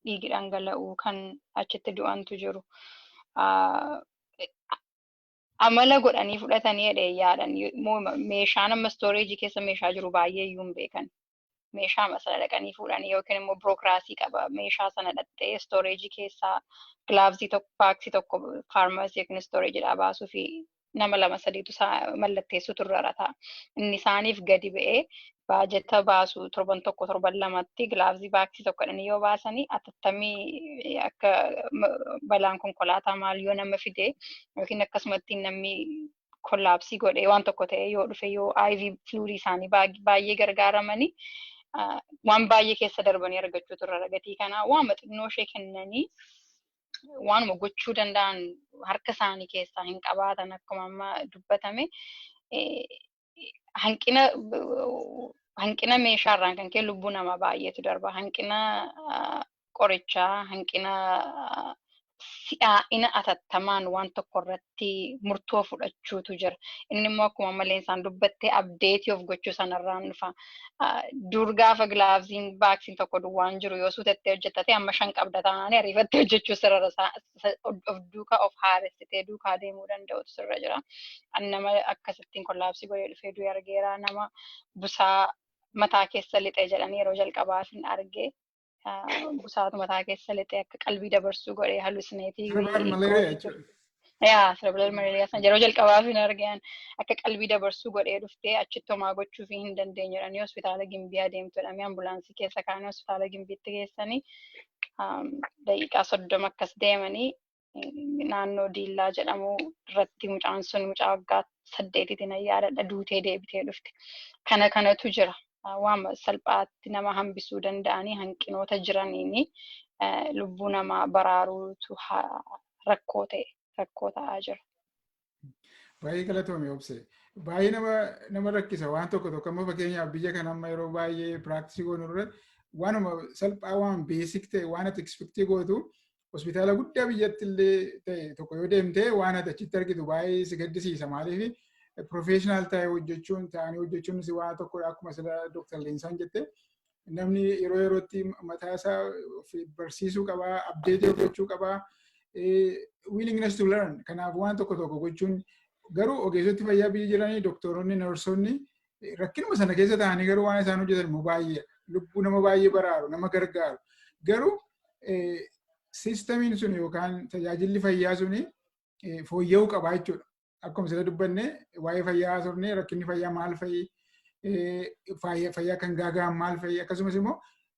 dhiigi dhangala'u kan achitti du'antu jiru. Amala godhanii fudhatanii jedhee yaadan meeshaan amma istooreejii keessa meeshaa jiru baay'ee iyyuu hin beekan. meeshaama sana dhaqanii fuudhanii yookiin immoo birookiraasii qaba meeshaa sana dhaqxee istooreejii keessaa gilaavsii tokko paaksii tokko faarmaasii yookiin istooreejiidhaa baasuu fi nama lama sadiitu isaa mallatteessuu turrara ta'a. Inni isaaniif gadi ba'ee baajata baasu torban tokko torban lamatti gilaavsii paaksii tokko jedhanii yoo baasanii atattamii akka balaan konkolaataa maal yoo nama fide yookiin akkasumatti namni kollaapsii godhee waan tokko ta'ee yoo dhufe yoo IV fluidii isaanii baay'ee gargaaramanii waan baay'ee keessa darbanii argachuu turre ragatii kanaa waan xinnoo ishee kennanii waanuma gochuu danda'an harka isaanii keessaa hin qabaatan akkuma amma dubbatame hanqina hanqina meeshaarraan kan ka'e lubbuu namaa baay'eetu darba hanqina qorichaa hanqina si'aa'ina atattamaan waan tokko irratti murtoo fudhachuutu jira. Inni immoo akkuma maleen isaan dubbattee abdeetii of gochuu sanarraan dhufa. Dur gaafa gilaavziin baaksiin tokko duwwaan jiru yoo suutettee hojjettate amma shan qabda taanaan ariifattee hojjechuu sirra of duukaa of haaressitee duukaa deemuu danda'utu sirra jira. Ani nama akkasittiin kollaabsii godhee dhufee du'e argeera. Nama busaa mataa keessa lixee jedhanii yeroo jalqabaaf hin arge. busaatu mataa keessa lixee akka qalbii dabarsuu godhee halusineetii. Cerebral malaria jechuudha. Yaa cerebral malaria sana yeroo jalqabaaf hin argeen akka qalbii dabarsuu godhee dhuftee achitti homaa gochuu fi hin dandeenye jedhanii hospitaala gimbii adeemtu jedhamee ambulaansii keessa kaanii hospitaala gimbiitti geessanii daqiiqaa soddoma akkas deemanii naannoo Diillaa jedhamu irratti mucaan sun mucaa waggaa saddeetitiin ayyaadadha duutee deebitee dhufte. Kana kanatu jira. Waan salphaatti nama hambisuu danda'anii hanqinoota jiraniin lubbuu namaa baraaruutu rakkoo ta'e rakkoo ta'aa jira. Baay'ee galatoomi obse. Baay'ee nama nama rakkisa waan tokko tokko amma fakkeenyaaf biyya kana amma yeroo baay'ee piraaktisii goonu irra waanuma salphaa waan beesik ta'e waan ati ekspektii gootu hospitaala guddaa biyyatti illee ta'e tokko yoo deemte waan ati achitti argitu baay'ee si gaddisiisa maaliif professional ta'e hojjechuun ta'anii hojjechuun si waan tokkodha akkuma sila Dr. Leensaan jette namni yeroo yerootti mataa isaa of barsiisuu qaba, abdeetii of gochuu qaba. Willingness to learn kanaaf waan tokko tokko gochuun garuu ogeessoti fayyaa biyya jiranii doktoronni, narsoonni rakkinuma sana keessa ta'anii garuu waan isaan hojjetan immoo baay'ee lubbuu nama baay'ee baraaru, nama gargaaru. Garuu siistamiin sun yookaan tajaajilli fayyaa sun fooyya'uu qaba jechuudha. akkuma sila dubbanne waa'ee fayyaa haasofne rakkinni fayyaa maal fa'i fayyaa kan gaagahan maal fa'i akkasumas immoo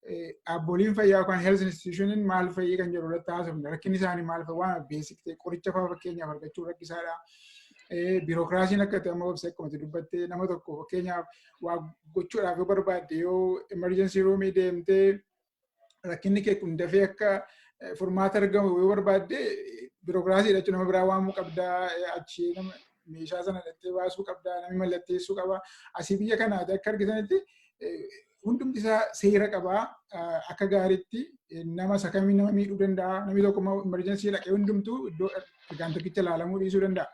dhaabbileen fayyaa yookaan health institutionin maal fa'i kan jedhu irratti haasofne rakkinni isaanii maal fa'i waan beesik ta'e qoricha fa'aa fakkeenyaaf argachuu rakkisaadha. Biirokiraasiin akka ta'e amma obsa akkuma dubbatte nama tokko fakkeenyaaf waa gochuudhaaf yoo barbaadde yoo emergency roomii deemtee rakkinni kee kun dafee akka furmaata argamu yoo barbaadde birookiraasii jechuun nama biraa waamuu qabda achi nama meeshaa sana dhattee baasuu qabda namni mallatteessuu qaba asii biyya kanaati akka argitanitti hundumti isaa seera qabaa akka gaariitti nama isa kamii nama miidhuu danda'a namni tokko immoo emerjensii dhaqee hundumtuu iddoo argaan tokkicha ilaalamuu dhiisuu danda'a.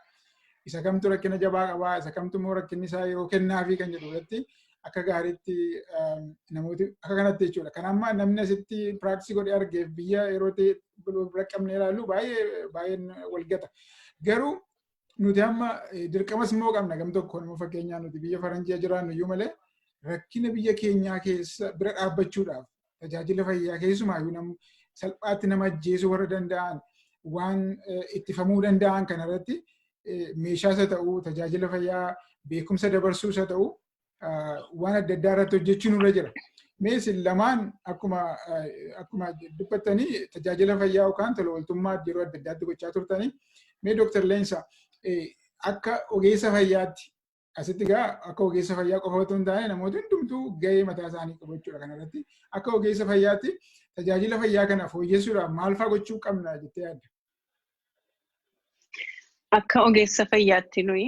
Isa kamtu rakkina jabaa qabaa isa kamtu immoo rakkinni isaa yeroo kennaafii kan jedhu irratti akka gaariitti namooti akka kanatti jechuudha. Kan amma namni asitti piraaksii godhee argeef biyya yeroo ta'e bira qabnee ilaallu baay'ee baay'een walgata. Garuu nuti amma dirqamas immoo qabna gam tokko nama fakkeenyaa nuti biyya faranjii jiraannu iyyuu malee rakkina biyya keenyaa keessa bira dhaabbachuudhaaf tajaajila fayyaa keessumaayyuu nam salphaatti nama ajjeesuu warra danda'an waan ittifamuu danda'an kanarratti meeshaas haa ta'u tajaajila fayyaa beekumsa dabarsuus haa ta'u waan adda addaa irratti hojjechuun irra jira. Mees lamaan akkuma akkuma dubbattanii tajaajila fayyaa yookaan tola ooltummaa yeroo adda addaatti gochaa turtanii mee Dooktar Leensa akka ogeessa fayyaatti Asitti egaa akka ogeessa fayyaa qofa otoo hin taane namoota hundumtuu gahee mataa isaanii qabu jechuudha kanarratti. Akka ogeessa fayyaatti tajaajila fayyaa kana fooyyessuudhaaf maal fa'aa gochuu qabna jettee yaadda? Akka ogeessa fayyaatti nuyi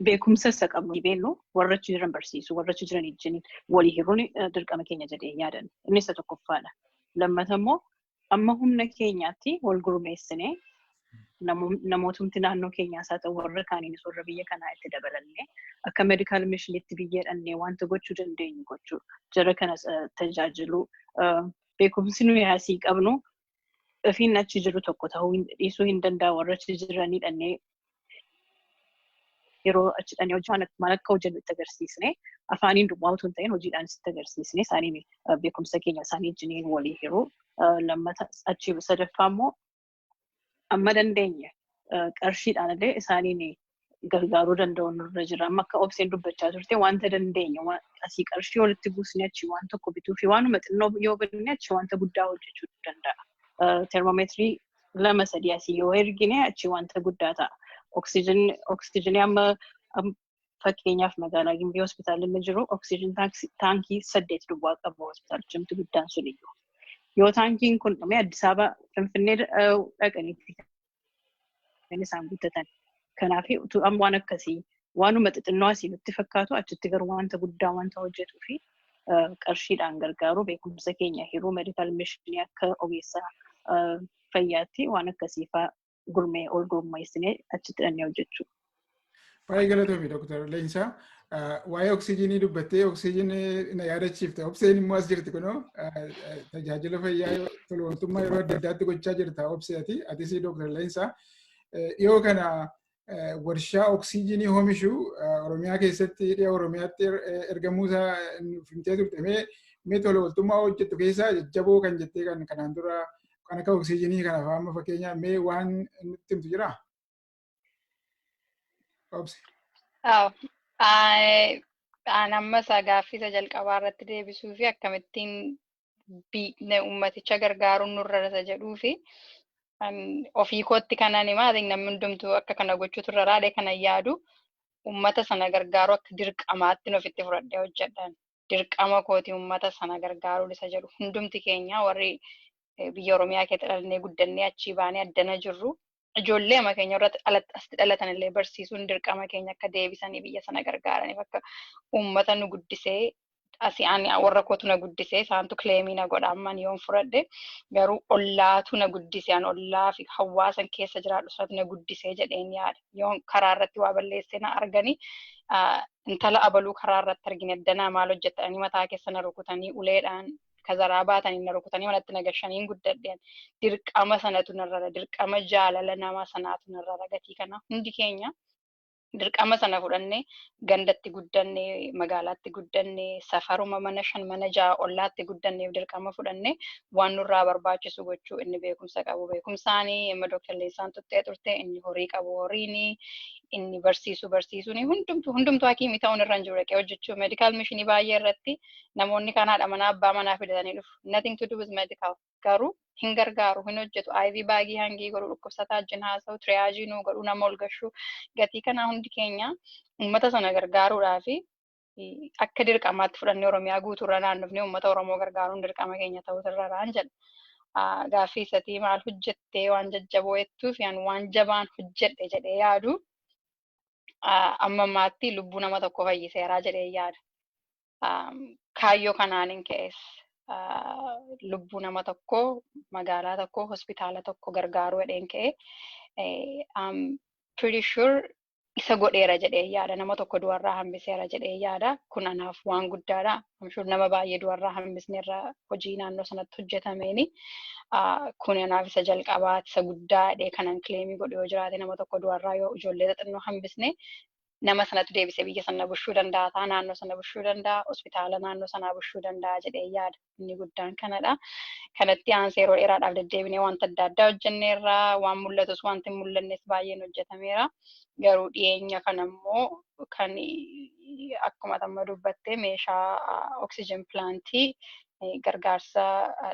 beekumsa isa qabnu beeknu warra achi jiran barsiisu warra achi jiran ijjin walii hiruun dirqama keenya jedhee yaadan inni isa tokkoffaadha. Lammata immoo amma humna keenyaatti wal gurmeessinee namootumti naannoo keenyaas haa ta'u warra kaaniinis warra biyya kanaa itti dabalannee akka meedikaal mishinitti biyya dhannee wanta gochuu dandeenyu gochuu jara kana tajaajiluu beekumsi nuyi asii qabnu ofiin achi jiru tokko ta'uu dhiisuu hin danda'a warra achi jiranii dhannee yeroo achi dhaqnee hojjaan maal akka hojjennu itti agarsiisne afaaniin duwwaa utuu hin ta'in hojiidhaan itti agarsiisne isaaniin beekumsa keenya isaanii wajjiniin walii hiruu lammata achi sadaffaa immoo amma dandeenye qarshiidhaan illee isaaniin gargaaruu danda'u nurra jira. Amma akka obseen dubbachaa turte wanta dandeenye asii qarshii walitti buusne achi waan tokko bituu fi waanuma xinnoo yoo binne achi wanta guddaa hojjechuu danda'a. Termoomeetirii lama sadii asii yoo ergine achi wanta guddaa ta'a. Oksijinii oksijinii amma am- fakkeenyaaf magaalaa Gimbii hospitaalli inni jiru oksijin taaksi- taankii saddeet duwwaa qaba hospitaalichumti guddaan sun iyyuu. Yoo taankiin kun dhume Addis Ababa Finfinnee eh, dhaqaniitti kan isaan guuttatan. Kanaaf utuu amma waan akkasii waanuma xixinnoo asii nutti fakkaatu achitti garuu wanta guddaa wanta hojjetuu fi qarshiidhaan gargaaru beekumsa keenya hiruu medikaal mishinii akka ogeessa fayyaatti waan akkasiifaa gurmee ol gurmeessinee achitti dhannee hojjechuu. Baay'ee galatoomi Dr. Leensaa. Waa'ee oksijiinii dubbattee oksijiinii na yaadachiifte. Obseen immoo as jirti kunoo tajaajila fayyaa tolooltummaa yeroo adda addaatti gochaa jirta obseeti. Atis Dr. Leensaa. Dhiyoo kana warshaa oksiijinii hoomishu Oromiyaa keessatti dhiya Oromiyaatti ergamuu isaa nuuf himtee turte mee mee tola ooltummaa hojjettu keessaa jajjaboo kan jettee kan kanaan dura kan akka oksiijinii kana fa'aa amma fakkeenya mee waan nutti himtu jiraa? Obsi. An amma isaa gaaffii isa jalqabaa irratti deebisuu fi akkamittiin ummaticha gargaaruun nurra isa jedhuu fi ofii kootti kanan himaa namni hundumtuu akka kana gochuutu irra raadhe kana yaadu ummata sana gargaaruu akka dirqamaatti ofitti fudhadhee hojjedhan. Dirqama kooti ummata sana gargaaruu isa jedhu hundumti keenya warri biyya Oromiyaa keessa dhalannee guddannee achii baanee addana jirru ijoollee ama keenya irratti asitti dhalatan illee barsiisuun dirqama keenya akka deebisanii biyya sana gargaaraniif akka uummata nu guddisee asii ani warra kootu na guddisee isaantu kileemii na godha amman yoon fudhadhe garuu ollaatu na guddise an ollaa fi hawaasan keessa jiraadhu sanatu na guddisee jedheen yaada yoon karaa irratti waa balleessee na arganii intala abaluu karaa irratti argine danaa maal hojjetanii mataa keessa na rukutanii uleedhaan kazaraa baatanii na rukutanii manatti na gashaniin guddadhe ani. dirqama sanatu narrara dirqama jaalala nama sanaatu narrara gatii kana hundi keenya dirqama sana fudhanne gandatti guddanne magaalaatti guddanne safaruma mana shan mana ja'a ollaatti guddanneef dirqama fudhanne waan nurraa barbaachisu gochuu inni beekumsa qabu beekumsaani amma Dr. Leensaan tuttee turte inni horii qabu horiini inni barsiisu barsiisuuni hundumtu hundumtu hakiimii ta'uun irra hin jiru dhaqee hojjechuu meedikaal mishinii baay'ee irratti namoonni kaan haadha manaa abbaa manaa fidatanii dhufu. Nothing to do with medical. Garuu hin gargaaru, hin hojjetu. IV baagii hangii godhu, dhukkubsataa wajjin haasa'u, triage nuu godhu, nama ol gashu. Gatii kanaa hundi keenya uummata sana gargaaruudhaaf akka dirqamaatti fudhannee Oromiyaa guutuurra naannofnee uummata Oromoo gargaaruun dirqama keenya ta'uu irraraan jedha. Gaaffii isatii maal hojjettee waan jajjaboo jettuuf yaan waan jabaan hojjedhe jedhee yaadu ah, amma ammaatti lubbuu nama tokko fayyiseeraa jedhee yaada. Ah, Kaayyoo kanaanin ka'es ah, lubbuu nama tokko magaalaa tokko hospitaala tokko gargaaruu jedheen ka'e. Eh, I'm pretty sure isa godheera jedhee yaada. Nama tokko du'arraa hambiseera jedhee yaada. Kun anaaf waan guddaadha. amshuur nama baay'ee du'arraa hambisneerra hojii naannoo sanatti hojjetameeni. Kun anaaf isa jalqabaati isa guddaa jedhee kanan kileemii godhu yoo jiraate nama tokko du'arraa yoo ijoollee xixinnoo hambisne nama sanatti deebisee biyya sana bushuu danda'a ta'a naannoo sana bushuu danda'a hospitaala naannoo sanaa bushuu danda'a jedhee yaada inni guddaan kanadha. Kanatti aansee yeroo dheeraadhaaf deddeebinee wanta adda addaa hojjenneerra waan mul'atus wanti hin mul'annes baay'een hojjetameera. Garuu dhiyeenya kana immoo kan akkuma amma dubbatte meeshaa oksijiin pilaantii gargaarsa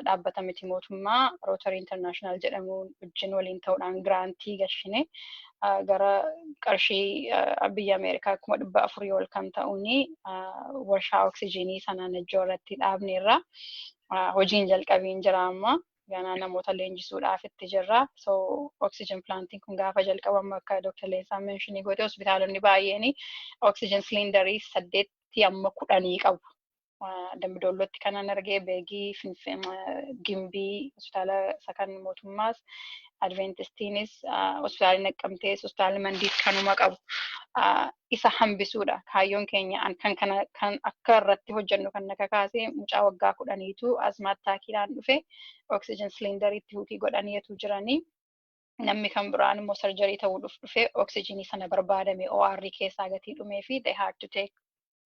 dhaabbata miti mootummaa Rootarii Intarnaashinaal jedhamu wajjin waliin ta'uudhaan giraantii gashine gara qarshii biyya Ameerikaa kuma dhibba afurii ol kan ta'uun warshaa oksijiinii sana Najjoo irratti dhaabneerra hojiin jalqabiin jira amma. ganaa namoota leenjisuudhaaf itti jirra. So oxygen planting kun gaafa jalqabamu akka Dr. Leensaan meenshinii godhe hospitaalonni baay'een oxygen silindarii saddeetti amma kudhanii qabu. Dambidollootti kanan argee beegii gimbii hospitaala isa kan mootummaas adventistiinis hospitaalli naqqamtees hospitaalli mandiis kanuma qabu. isa hambisuudha kaayyoon keenya an kan kana kan akka irratti hojjennu kan na kakaase mucaa waggaa kudhaniitu azmaa attaakiidhaan dhufe oksijiin siliindariitti huukii godhanii etuu jiranii namni kan biraan immoo sarjarii ta'uu dhuf dhufe oksijiinii sana barbaadame OR keessaa gatii dhumee fi they had to take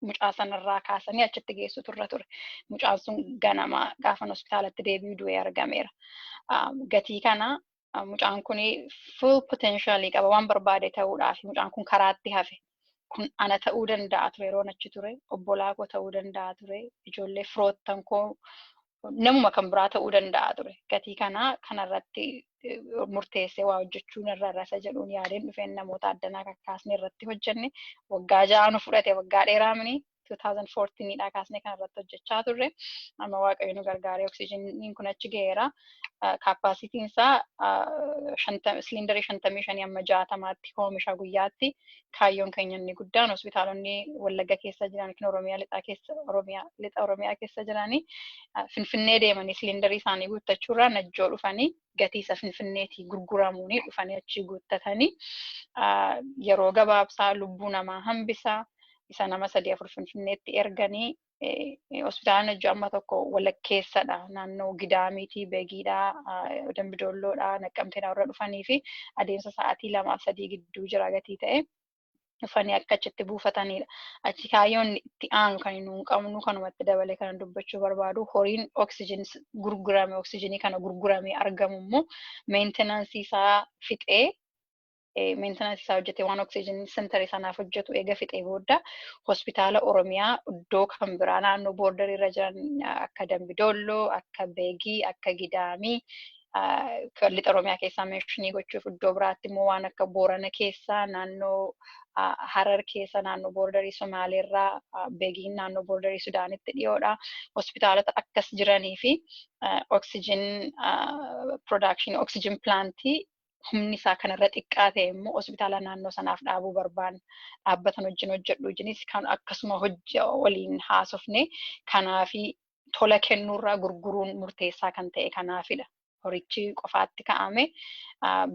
mucaa sanarraa kaasanii achitti geessutu irra ture. Mucaan sun ganama gaafan hospitaalatti deebi'u du'ee argameera. Um, gatii kana mucaan kun full potential qaba waan barbaade ta'uudhaaf mucaan kun karaatti hafe kun ana ta'uu danda'a ture yeroon achi ture obbolaa koo ta'uu danda'a ture ijoollee firoottan koo namuma kan biraa ta'uu danda'a ture gatii kanaa kanarratti murteessee waa hojjechuun irra rasa jedhuun yaadeen dhufeen namoota addanaa kakkaasne irratti hojjenne waggaa ja'a nu fudhate waggaa dheeraa mini 2014 dhaa kaasnee kan irratti hojjechaa turre. Amma waaqayyo nu gargaaree oksijiniin kun achi ga'eera. Kaappaasitiin isaa siliindarii 55 amma 60tti oomisha guyyaatti. Kaayyoon keenya inni guddaan hospitaalonni Wallagga keessa jiran yookiin Oromiyaa lixaa keessa Oromiyaa lixa Oromiyaa keessa jiranii Finfinnee deemanii siliindarii isaanii guuttachuurraa Najjoo dhufanii gatii isa finfinneetii gurguramuunii dhufanii achii guuttatanii yeroo gabaabsaa lubbuu namaa hambisa isa nama sadii afur finfinneetti erganii hospitaalaan hojii amma tokko walakkeessadha naannoo gidaamiitii beegiidha dambidoolloodha naqqamteenaa warra dhufanii fi adeemsa sa'aatii lamaa sadii gidduu jira gatii ta'e. dhufanii akka achitti buufatanidha. Achi kaayyoon itti aanu kan nuun qabnu kanumatti dabalee kana dubbachuu barbaadu horiin oksijin gurgurame oksijinii kana gurguramee argamu immoo meentenansii isaa fixee meentenansii isaa hojjetee waan oksijin sentarii sanaaf hojjetu eega fixee booda hospitaala Oromiyaa iddoo kan biraa naannoo boordarii irra jiran akka Dambidolloo, akka Beegii, akka Gidaamii lixa Oromiyaa keessaa meeshinii gochuuf iddoo biraatti immoo waan akka Boorana keessaa naannoo Harar keessa naannoo boordarii Somaaleerraa beegiin naannoo boordarii Sudaanitti dhiyoodha. Hospitaalota akkas jiranii fi oksijin production oksijin pilaantii humni isaa kanarra xiqqaa ta'e immoo hospitaala naannoo sanaaf dhaabuu barbaanna. Dhaabbatan wajjin hojjedhu wajjinis kan akkasuma waliin haasofne kanaafi tola kennuurraa gurguruun murteessaa kan ta'e kanaafidha. Horichi qofaatti ka'ame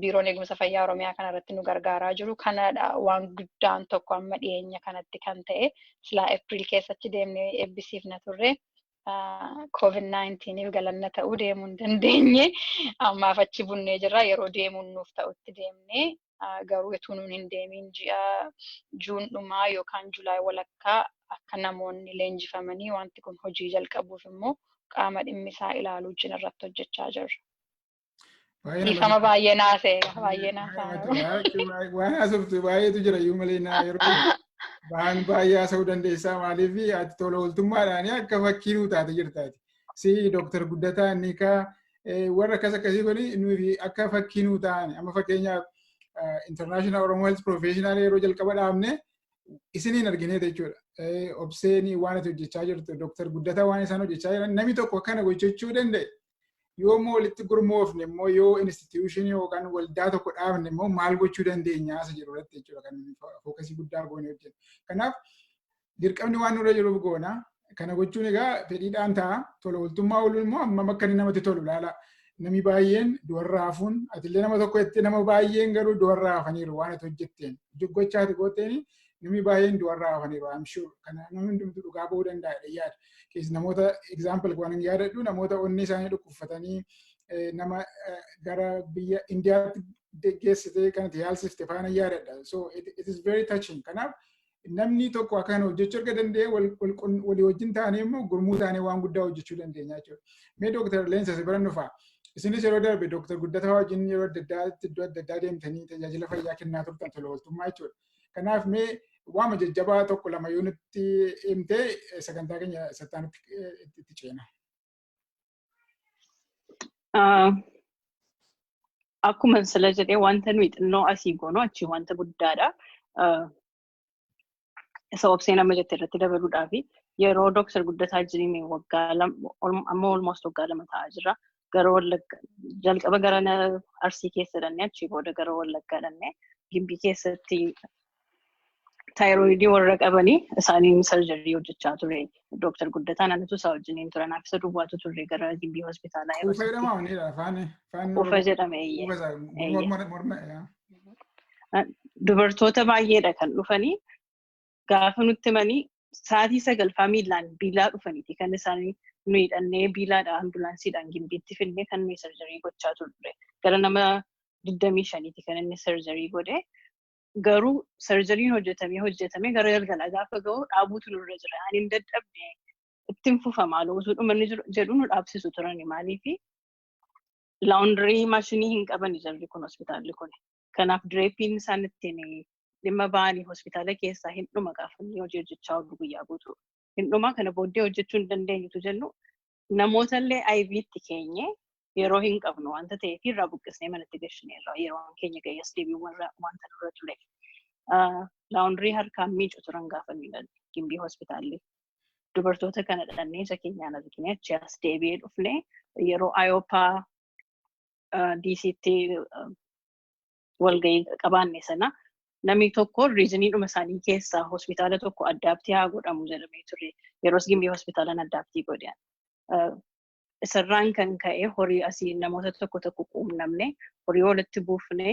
biiroon eegumsa fayyaa Oromiyaa kanarratti nu gargaaraa jiru kanadha waan guddaan tokko amma dhiyeenya kanatti kan ta'e silaa Eepiriil keessatti deemnee eebbisiifna turre. COVID-19f galanna ta'uu deemuu hin dandeenye. Ammaaf achi bunnee jirra. Yeroo deemuun nuuf ta'utti deemnee garuu utuu nuun hin deemiin ji'a Juun dhumaa yookaan Julaay walakkaa akka namoonni leenjifamanii wanti kun hojii jalqabuuf immoo qaama dhimmi isaa ilaaluu wajjin irratti hojjechaa jirra. Dhiifama baay'ee naasee baay'ee naasaa. Waan haasoftu baay'eetu jira iyyuu malee naa yeroo waan baay'ee haasa'uu dandeessaa maaliif ati tola ooltummaadhaan akka fakkii nuu taate jirtaati. Si Dooktar Guddataa Nikaa warra akkas akkasii kun nuti akka fakkii nuu ta'an amma fakkeenyaaf international oromoo health professional yeroo jalqaba dhaabne isiniin arginee jechuudha. Obseen waan ati hojjechaa jirtu dooktar guddataa waan isaan hojjechaa jiran namni tokko kana gochuu danda'e yoo immoo walitti gurmoofne immoo yoo institution yookaan waldaa tokko dhaabne immoo maal gochuu dandeenya isa jedhu irratti jechuudha kan fookasii guddaa goone hojjennu. Kanaaf dirqamni waan nurra jiruuf goona. Kana gochuun egaa fedhiidhaan ta'a. Tola ooltummaa ooluun immoo hammam akka inni namatti tolu ilaala. Namni baay'een du'arraa hafuun atillee nama tokko jettee nama baay'een garuu du'arraa hafaniiru waan ati hojjetteen. Gocha ati gooteen namni baay'een du'arraa hafaniiru I'm sure. Kana namni hundumtuu dhugaa ba'uu danda'a jedhee yaada. Kees namoota example waan hin yaadadhu namoota onnee isaanii dhukkubfatanii nama gara biyya Indiyaatti geggeessitee kan itti yaalsifte faana yaadadha. So it is very touching. Kanaaf namni tokko akkan hojjechuu erga danda'e walii wajjin taanee immoo gurmuu taanee waan guddaa hojjechuu dandeenya jechuudha. Mee Dooktar Leensa si bira dhufaa. Isinis yeroo darbe Dooktar Guddataa wajjin yeroo adda addaatti iddoo adda addaa deemtanii tajaajila fayyaa kennaa turtan tola ooltummaa jechuudha. Kanaaf mee waama jajjabaa tokko lama yoo nutti himtee sagantaa keenya sattaanutti itti ceena. Ah, Akkuma sila jedhee wanta nuyi xinnoo asii goonu achi wanta guddaadha. Ah, Isa obsee nama jette irratti dabaluudhaaf yeroo Dooktar Guddataa jirime waggaa lama amma olmost waggaa lama ta'aa jira. Gara Wallagga jalqaba gara na- Arsii keessa dhannee achii booda gara Wallaggaa dhannee Gimbii keessatti taayiroidii warra qabanii isaaniin sarjarii hojjechaa ture. Dooktar Guddataan anatu isaa wajjiniin ture. Naaf isa duwwaatu turre gara gimbii hospitaalaa yeroo Ufa jedhama sanatti. wanidha afaan afaan Ufa jedhame eeyyee. Ufa isaa Eeyyee. morma morma yaa. Dubartoota baay'eedha kan dhufanii gaafa nutti himanii sa'aatii sagalfaa miilaan biilaa dhufaniiti kan isaanii nu hidhannee biilaadha ambulaansiidhaan gimbiitti fidnee kan nuyi sarjarii gochaa turre. Gara nama digdamii shaniiti kan inni sarjarii godhe. garuu sarjariin hojjetamee hojjetamee gara galgalaa gaafa ga'u dhaabuutu nurra jira ani hin dadhabne ittiin fufa maaloo utuu dhumanni jiru- jedhu nu dhaabsisu turani maaliifi laawundirii maashinii hin qabani jarri kun hospitaalli kun kanaaf direepiin isaan ittiin dhimma ba'anii hospitaala keessaa hin dhuma gaafa inni hojii hojjechaa oolu guyyaa guutuu hin dhuma kana booddee hojjechuu hin dandeenyutu jennu namootallee IV itti keenye yeroo hin qabnu wanta ta'ee fi irraa buqqisnee manatti gashineerra yeroo keenya ga'ees deebiin warra wanta nurra ture. Laawundirii harkaan miicu turan gaafa nuyi galle gimbii hospitaalli. Dubartoota kana dhannee isa keenyaan argine achi as deebi'ee dhufne yeroo Ayooppaa DCtti walgahii qabaanne sana namni tokko riiziniidhuma isaanii keessaa hospitaala tokko addaabtii haa godhamu jedhamee ture. Yeroos gimbii hospitaalaan addaabtii godhan. Isarraan kan ka'e horii asii namoota tokko tokko quunnamne horii walitti buufne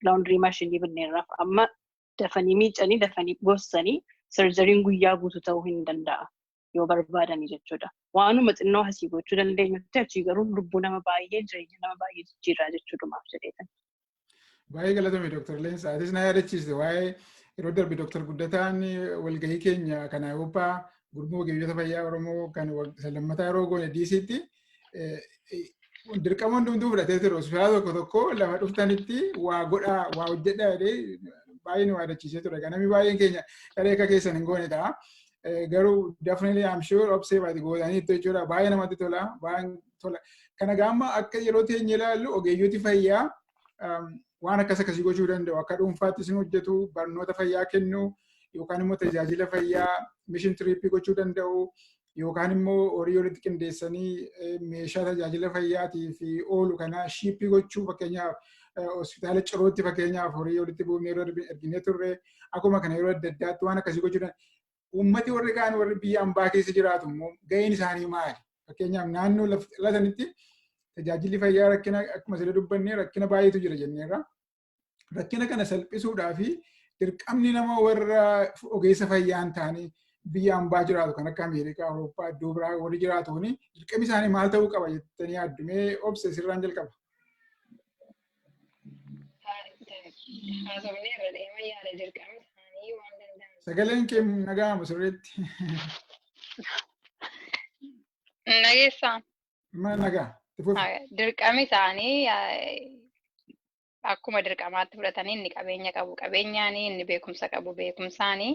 laawundirii maashinii binneerraaf amma dafanii miicanii dafanii gossanii sarjariin guyyaa guutuu ta'uu hin danda'a. yoo barbaadani jechuudha. Waanuma xinnoo asii gochuu dandeenyutti achii garuu lubbuu nama baay'ee jireenya nama baay'ee jijjiirraa jechuudhumaaf jedheetan. Baay'ee galatoomi Dooktar Leensa. Atis na yaadachiiste waa'ee yeroo darbe Dooktar Guddataan walgahii keenya kan Awurooppaa gurmuu ogeeyyota fayyaa Oromoo kan isa lammataa yeroo goone DC'tti dirqama hundumtuu fudhatee ture hospitaala tokko tokko lafa dhuftanitti waa godhaa waa hojjedhaa jedhee baay'ee nu yaadachiisee ture ganami baay'een keenya dharee akka keessan hin goone ta'a. Garuu definitely I'm sure obsee baati gootaniitti jechuudha baay'ee namatti tola baay'ee tola. Kana gaamma akka yeroo teenye ilaallu ogeeyyooti fayyaa waan akkas akkasii gochuu danda'u akka dhuunfaatti isin hojjetu barnoota fayyaa kennu yookaan immoo tajaajila fayyaa mishin tiriippii gochuu danda'u yookaan immoo horii walitti qindeessanii meeshaa tajaajila fayyaatiif oolu kana shiippii gochuu fakkeenyaaf hospitaala cirootti fakkeenyaaf horii walitti buufnee yeroo erginee turre akkuma kana yeroo adda addaatti waan akkasii gochuudhaan uummati warri kaan warri biyya ambaa keessa jiraatu immoo ga'een isaanii maali? Fakkeenyaaf naannoo lafa sanitti tajaajilli fayyaa rakkina akkuma sirrii dubbanne rakkina baay'eetu jira jenneerra. rakkina kana salphisuudhaa fi dirqamni nama warra ogeessa fayyaa hin taane biyya ambaa jiraatu kan akka Ameerikaa, Awurooppaa, iddoo biraa warri jiraatuun dirqamni isaanii maal ta'uu qaba jettanii yaaddumee obse sirraan jalqaba. Haasofni irra deema yaada dirqamni isaanii waan danda'an. Sagaleen kee naga'amu sirriitti. Nageessaan. Mana nagaa. Itti fufi. Ah, Dirqami isaanii ah, akkuma dirqamaatti fudhatanii inni qabeenya qabu qabeenyaanii inni beekumsa qabu beekumsaanii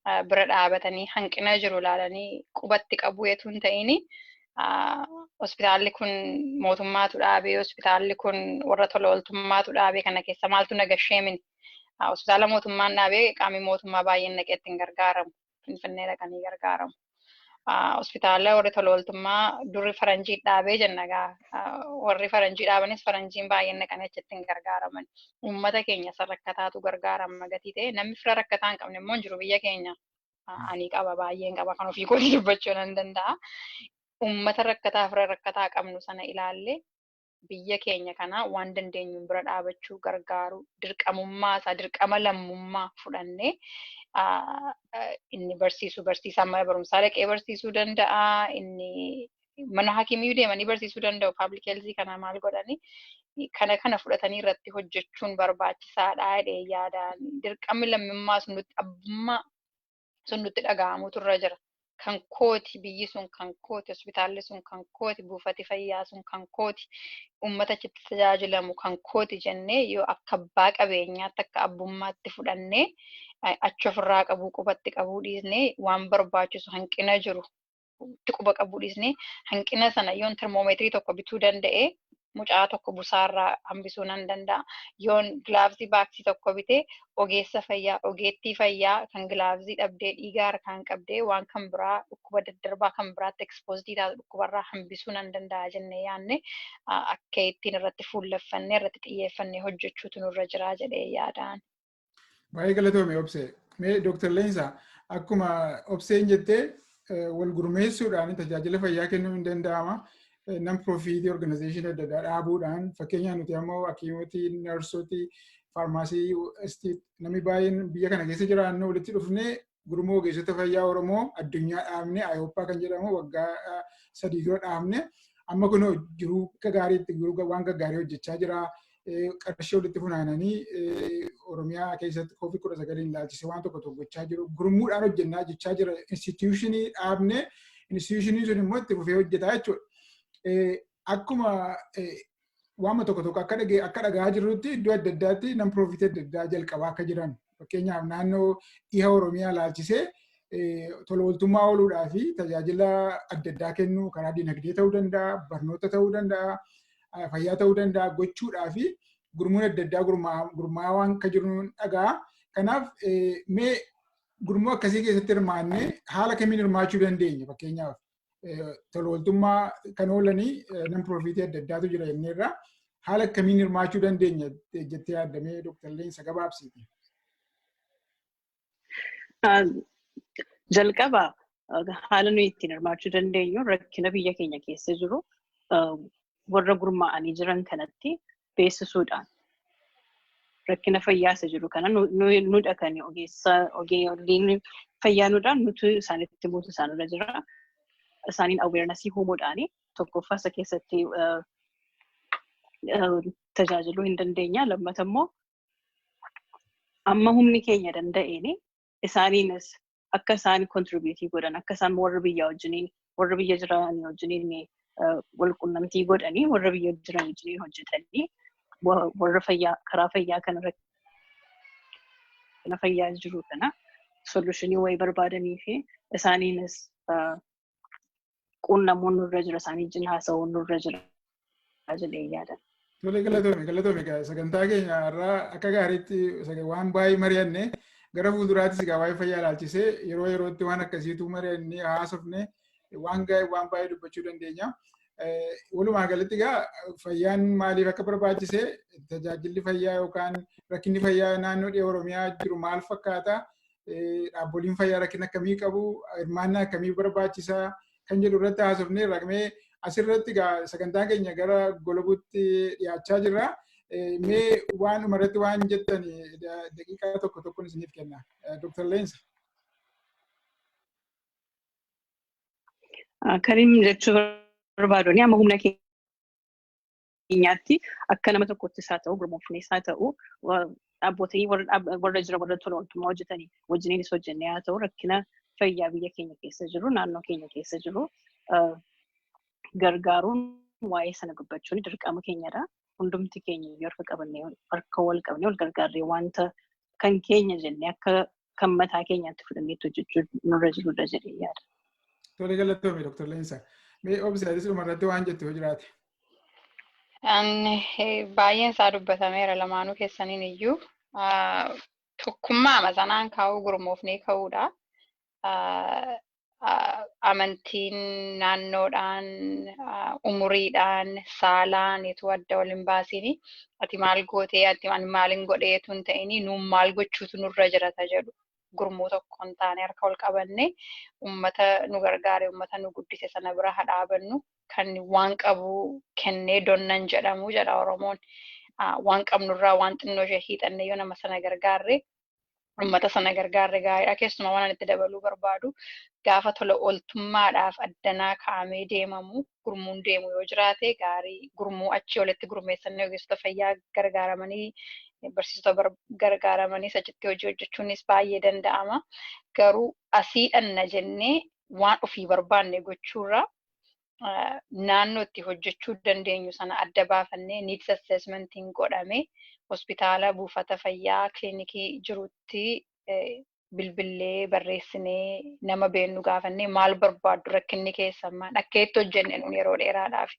ah, bira dhaabatanii hanqina jiru ilaalanii qubatti qabuu etu hin ta'ini. Ah, Hospitaalli kun mootummaatu dhaabee hospitaalli kun warra tola ooltummaatu dhaabee kana keessa maaltu nagashee mini. Ah, Hospitaala mootummaan dhaabee qaamni mootummaa baay'een naqeetti hin gargaaramu. Finfinnee dhaqanii gargaaramu. Hospitaala warri tola ooltummaa durri faranjii dhaabee jenna egaa warri faranjii dhaabanis faranjiin baay'een dhaqanii achitti hin gargaaraman. Uummata keenya isa rakkataatu gargaarama gatii ta'e namni fira rakkataa hin qabne immoo hin jiru biyya keenya. Ani qaba baay'een qaba kan ofii kootii dubbachuu nan danda'a. Uummata rakkataa fira rakkataa qabnu sana ilaallee biyya keenya kana waan dandeenyuun bira dhaabachuu gargaaru dirqamummaa isaa dirqama lammummaa fudhannee inni barsiisu barsiisaa mana barumsaa dhaqee barsiisuu danda'a inni mana hakimiyyuu deemanii barsiisuu danda'u paablik heelzii kana maal godhanii kana kana fudhatanii irratti hojjechuun barbaachisaadha jedhee yaadaan dirqamni lammummaa sun nutti abbummaa sun nutti dhaga'amuutu irra jira. Kan kooti, biyyi sun kan kooti, hospitaalli sun kan kooti, buufati fayyaa sun kan kooti, uummata achitti tajaajilamu kan kooti jennee yoo akka abbaa qabeenyaatti akka abbummaatti fudhannee achi ofirraa qabuu qubatti qabuu dhiisnee waan barbaachisu hanqina jiru itti quba qabuu dhiisnee hanqina sana yoon termoomeetirii tokko bituu danda'e mucaa tokko busaarraa hambisuu nan danda'a. Yoon gilaavsii baaksii tokko bitee ogeessa fayyaa, ogeettii fayyaa kan gilaavsii dhabdee dhiiga harkaan qabdee waan kan biraa dhukkuba daddarbaa kan biraatti ekspoozidii taatu dhukkubarraa hambisuu nan danda'a jennee yaadne akka ittiin irratti fuulleffannee irratti xiyyeeffannee hojjechuutu nurra jira jedhee yaadaan. Baay'ee galatoome obsee. Mee Dooktar Leensaa akkuma obseen jettee wal gurmeessuudhaan tajaajila fayyaa kennuu hin danda'ama. Nam piroofiitii organizeeshinii adda addaa dhaabuudhaan fakkeenyaaf nuti ammoo hakiimoti, narsooti, faarmaasii, namni baay'een biyya kana keessa jiraannu walitti dhufnee gurmuu ogeessota fayyaa Oromoo addunyaa dhaabne Ayooppaa kan jedhamu waggaa sadii dura dhaabne amma kun jiruu gaariitti waan gaggaarii hojjechaa jira. Qarshii walitti funaananii Oromiyaa keessatti koovid kudha sagaliin ilaalchisee waan tokko tokko gochaa jiru. Gurmuudhaan hojjennaa jechaa jira. Instituushinii dhaabne instituushiniin sun immoo itti fufee hojjetaa jechuudha. Akkuma waama tokko tokko akka dhagee akka dhagahaa jirrutti iddoo adda addaatti nan piroofitii adda addaa jalqabaa akka jiran fakkeenyaaf naannoo dhiha Oromiyaa laalchisee tola ooltummaa ooluudhaa fi tajaajila adda addaa kennuu karaa dinagdee ta'uu danda'a, barnoota ta'uu danda'a, fayyaa ta'uu danda'a gochuudhaa fi gurmuun adda addaa gurmaa'aa waan akka jiru dhaga'a. Kanaaf mee gurmuu akkasii keessatti hirmaannee haala kamiin hirmaachuu dandeenya fakkeenyaaf tolooltummaa kan oolanii nan piroofiitii adda addaatu jira jennee irraa haala akkamiin hirmaachuu dandeenya jettee yaadamee Dr. Leensa gabaabsiiti. Jalqaba haala nuyi ittiin hirmaachuu dandeenyu rakkina biyya keenya keessa jiru warra gurmaa'anii jiran kanatti beeksisuudhaan rakkina fayyaa isa jiru kana nuudha kan ogeessa ogeeyyiin fayyaa nuudhaan nuti isaanitti buutu isaanirra jira. Isaaniin aweernasii uumuudhaan tokkoffaa isa keessatti tajaajiluu hin dandeenya. Lammata immoo amma humni keenya danda'een isaaniinis akka isaan kontribiitii godhan akka isaan warra biyya wajjiniin warra biyya jiran wajjiniin wal qunnamtii godhanii warra biyya jiran wajjiniin hojjetanii warra fayyaa karaa fayyaa kanarratti kana fayyaa jiru kana solushinii wayii barbaadanii fi isaaniinis quunnamuun nurra jira isaanii wajjin haasa'uun nurra jira jedhee yaadan. Tole galatoome galatoome egaa sagantaa keenya irraa akka gaariitti saga- waan baay'ee mari'anne gara fuulduraattis egaa waa'ee fayyaa ilaalchisee yeroo yerootti waan akkasiitu mari'annee haasofne waan gaa'e waan baay'ee dubbachuu dandeenya. Eh, Walumaa galatti egaa fayyaan maaliif akka barbaachise tajaajilli fayyaa yookaan rakkinni fayyaa naannoo dhiha Oromiyaa jiru maal fakkaata? dhaabboliin fayyaa rakkina akkamii qabu, hirmaannaa akkamii barbaachisaa kan jedhu irratti haasofnee raqmee asirratti sagantaa keenya gara golabuutti dhiyaachaa jirra. Mee waan dhumarratti waan jettan daqiiqaa tokko tokkoon isiniif kenna. Dr. Leensa. Karim jechuu barbaadu amma humna keenya keenyaatti akka nama tokkottis haa ta'u gurmoofnees haa ta'u dhaabbootanii warra jira warra tola ooltummaa hojjetanii wajjiniinis hojjennee haa ta'u rakkina fayyaa biyya keenya keessa jiru naannoo keenya keessa jiru gargaaruun waa'ee sana dubbachuun dirqama keenyadha. Hundumti keenya iyyuu harka qabannee harka wal qabnee wal gargaarree wanta kan keenya jennee akka kan mataa keenyaatti fudhannee hojjechuu nurra jirudha jedhee yaada. Tole galatoome Dr. Leensa. Mee obsi atis dhumarratti waan jettu yoo jiraate. Baay'een isaa dubbatameera lamaanuu keessaniin iyyuu tokkummaa masanaan kaa'uu gurmoofnee ka'uudha. amantiin naannoodhaan, umuriidhaan, saalaan etuu adda wal hin baasini. Ati maal gootee, ati ani maalin godhee etuu hin ta'ini. Nuun maal gochuutu nurra jirata jedhu. Gurmuu tokkoon taanee harka wal qabannee ummata nu gargaare, ummata nu guddise sana bira haa dhaabannu. Kan waan qabu kennee donna hin jedhamu jedha Oromoon. Waan qabnurraa waan xinnoo ishee hiixannee yoo nama sana gargaarre ummata sana gargaarre gaariidha. Keessumaa waan itti dabaluu barbaadu gaafa tola ooltummaadhaaf addanaa kaa'amee deemamu gurmuun deemu yoo jiraate gaarii gurmuu achii olitti gurmeessanii ogeessota fayyaa gargaaramanii barsiisota gargaaramanii achitti hojii hojjechuunis baay'ee danda'ama. Garuu asii dhanna jennee waan ofii barbaanne gochuurra naannoo itti hojjechuu dandeenyu sana adda baafannee needs assessmentiin godhame hospitaala buufata fayyaa kilinikii jirutti bilbillee barreessinee nama beennu gaafannee maal barbaaddu rakkinni keessan maal akka itti hojjenne nuun yeroo dheeraadhaaf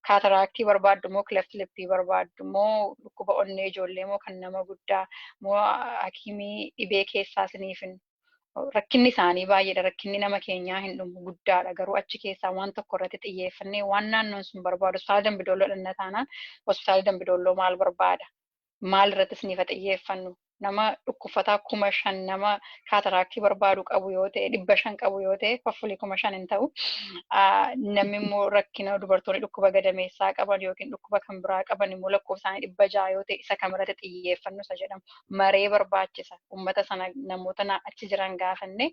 kaataraaktii barbaaddu moo kilafti lippii barbaaddu moo dhukkuba onnee ijoollee moo kan nama guddaa moo hakiimii dhibee keessaa siniifin rakkinni isaanii baay'eedha. Rakkinni nama keenyaa hin dhumu guddaadha. Garuu achi keessaa waan tokko irratti xiyyeeffannee waan naannoon sun barbaadu hospitaala Dambidolloo dhanna taanaan hospitaala Dambidolloo maal barbaada? Maal irratti isiniifa xiyyeeffannu? Nama dhukkubfataa kuma shan nama kaataraaktii barbaadu qabu yoo ta'e dhibba shan qabu yoo ta'e hoffulii kuma shan hin ta'u. Namni immoo rakkina dubartoonni dhukkuba gadameessaa qaban yookiin dhukkuba kan biraa qaban immoo lakkoofsaanii dhibba ja'a yoo ta'e isa kam irratti xiyyeeffannu isa jedhamu. maree barbaachisa. Uummata sana namoota na- achi jiran gaafanne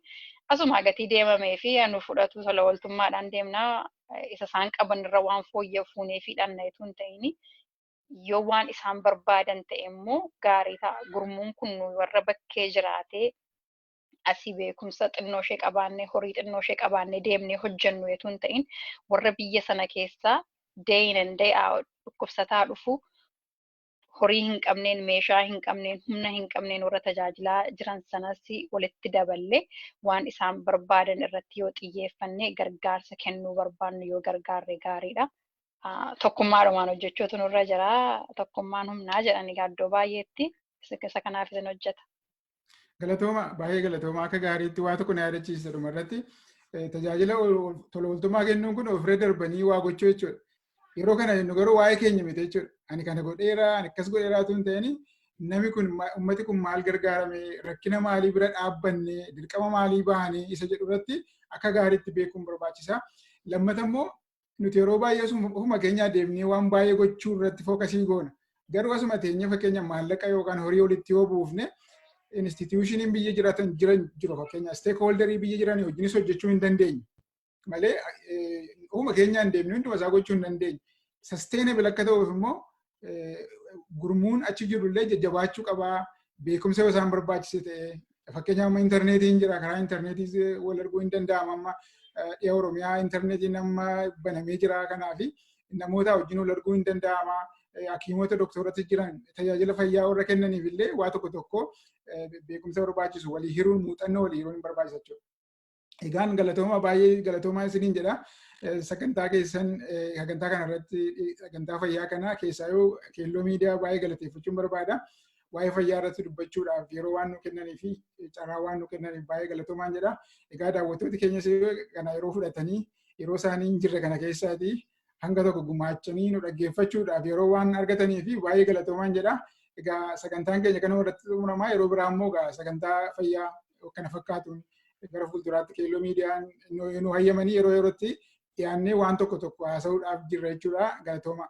asuma gatii deemamee fi anu fudhatu tola ooltummaadhaan deemna eh, isa isaan qaban irra waan fooyya'u fuunee fi dhanna utuu hin ta'in yoo waan isaan barbaadan ta'e immoo gaarii ta'a. Gurmuun kun nu warra bakkee jiraatee asii beekumsa xinnoo ishee qabaannee horii xinnoo ishee qabaannee deemnee hojjennu utuu hin ta'in warra biyya sana keessaa day in and day out dhukkubsataa dhufu horii hin qabneen, meeshaa hin qabneen, humna hin qabneen warra tajaajilaa jiran sanas walitti daballee waan isaan barbaadan irratti yoo xiyyeeffanne gargaarsa kennuu barbaannu yoo gargaarre gaariidha. Ah, Tokkummaadhumaan hojjechuutu nurra jira. Tokkummaan humnaa jedhan egaa iddoo baay'eetti isa isa kanaaf isin hojjeta. Galatooma baay'ee galatooma akka gaariitti waa tokko na yaadachiisa dhuma irratti tajaajila tola ooltummaa kennuun kun ofirra darbanii waa gochuu jechuudha. Yeroo kana jennu garuu waa'ee keenya miti jechuudha. Ani kana godheera, ani akkas godheera osoo hin ta'in namni kun uummati kun maal gargaarame, rakkina maalii bira dhaabbanne, dirqama maalii bahanii isa jedhu irratti akka gaariitti beekuun barbaachisa. Lammata immoo nuti yeroo baay'ee ofuma keenyaa deemnee waan baay'ee gochuu irratti fookasii goona. Garuu asuma teenyee fakkeenya maallaqa yookaan horii walitti yoo buufne instituushiniin biyya jiraatan jiran jiru fakkeenya steekhooldarii biyya jiran wajjinis hojjechuu hin dandeenye. Malee ofuma keenyaan deemnee hunduma isaa gochuu hin dandeenye. Sasteenabil akka ta'uuf immoo gurmuun achi jiru illee jajjabaachuu qabaa beekumsa yoo isaan barbaachise ta'e fakkeenyaaf amma intarneetiin jira karaa intarneetiis wal arguu hin danda'ama amma dhiya oromiyaa intarneetiin amma banamee jira kanaaf namoota wajjin wal arguu hin danda'ama hakiimota doktorratti jiran tajaajila fayyaa warra kennaniif illee waa tokko tokko beekumsa barbaachisu walii hiruun muuxannoo walii hiruun hin barbaachisa jechuudha. Egaan galatooma baay'ee galatoomaa isiniin jedha. Sagantaa keessan sagantaa kana irratti sagantaa fayyaa kana keessaayyuu keelloo miidiyaa baay'ee galateeffachuun barbaada. Waa'ee fayyaa irratti dubbachuudhaaf yeroo waan nu kennanii fi carraa waan nu kennaniif baay'ee galatoomaan jedha. Egaa daawwattooti keenyas kana yeroo fudhatanii yeroo isaanii hin jirre kana keessaati hanga tokko gumaachanii nu dhaggeeffachuudhaaf yeroo waan argatanii fi baay'ee galatoomaan jedha. Egaa sagantaan keenya kanuma irratti xumuramaa yeroo biraa immoo egaa sagantaa fayyaa kana fakkaatuun gara fuulduraatti keelloo miidiyaan nu hayyamanii yeroo yerootti dhiyaannee waan tokko tokko haasa'uudhaaf jirra jechuudha. Galatooma.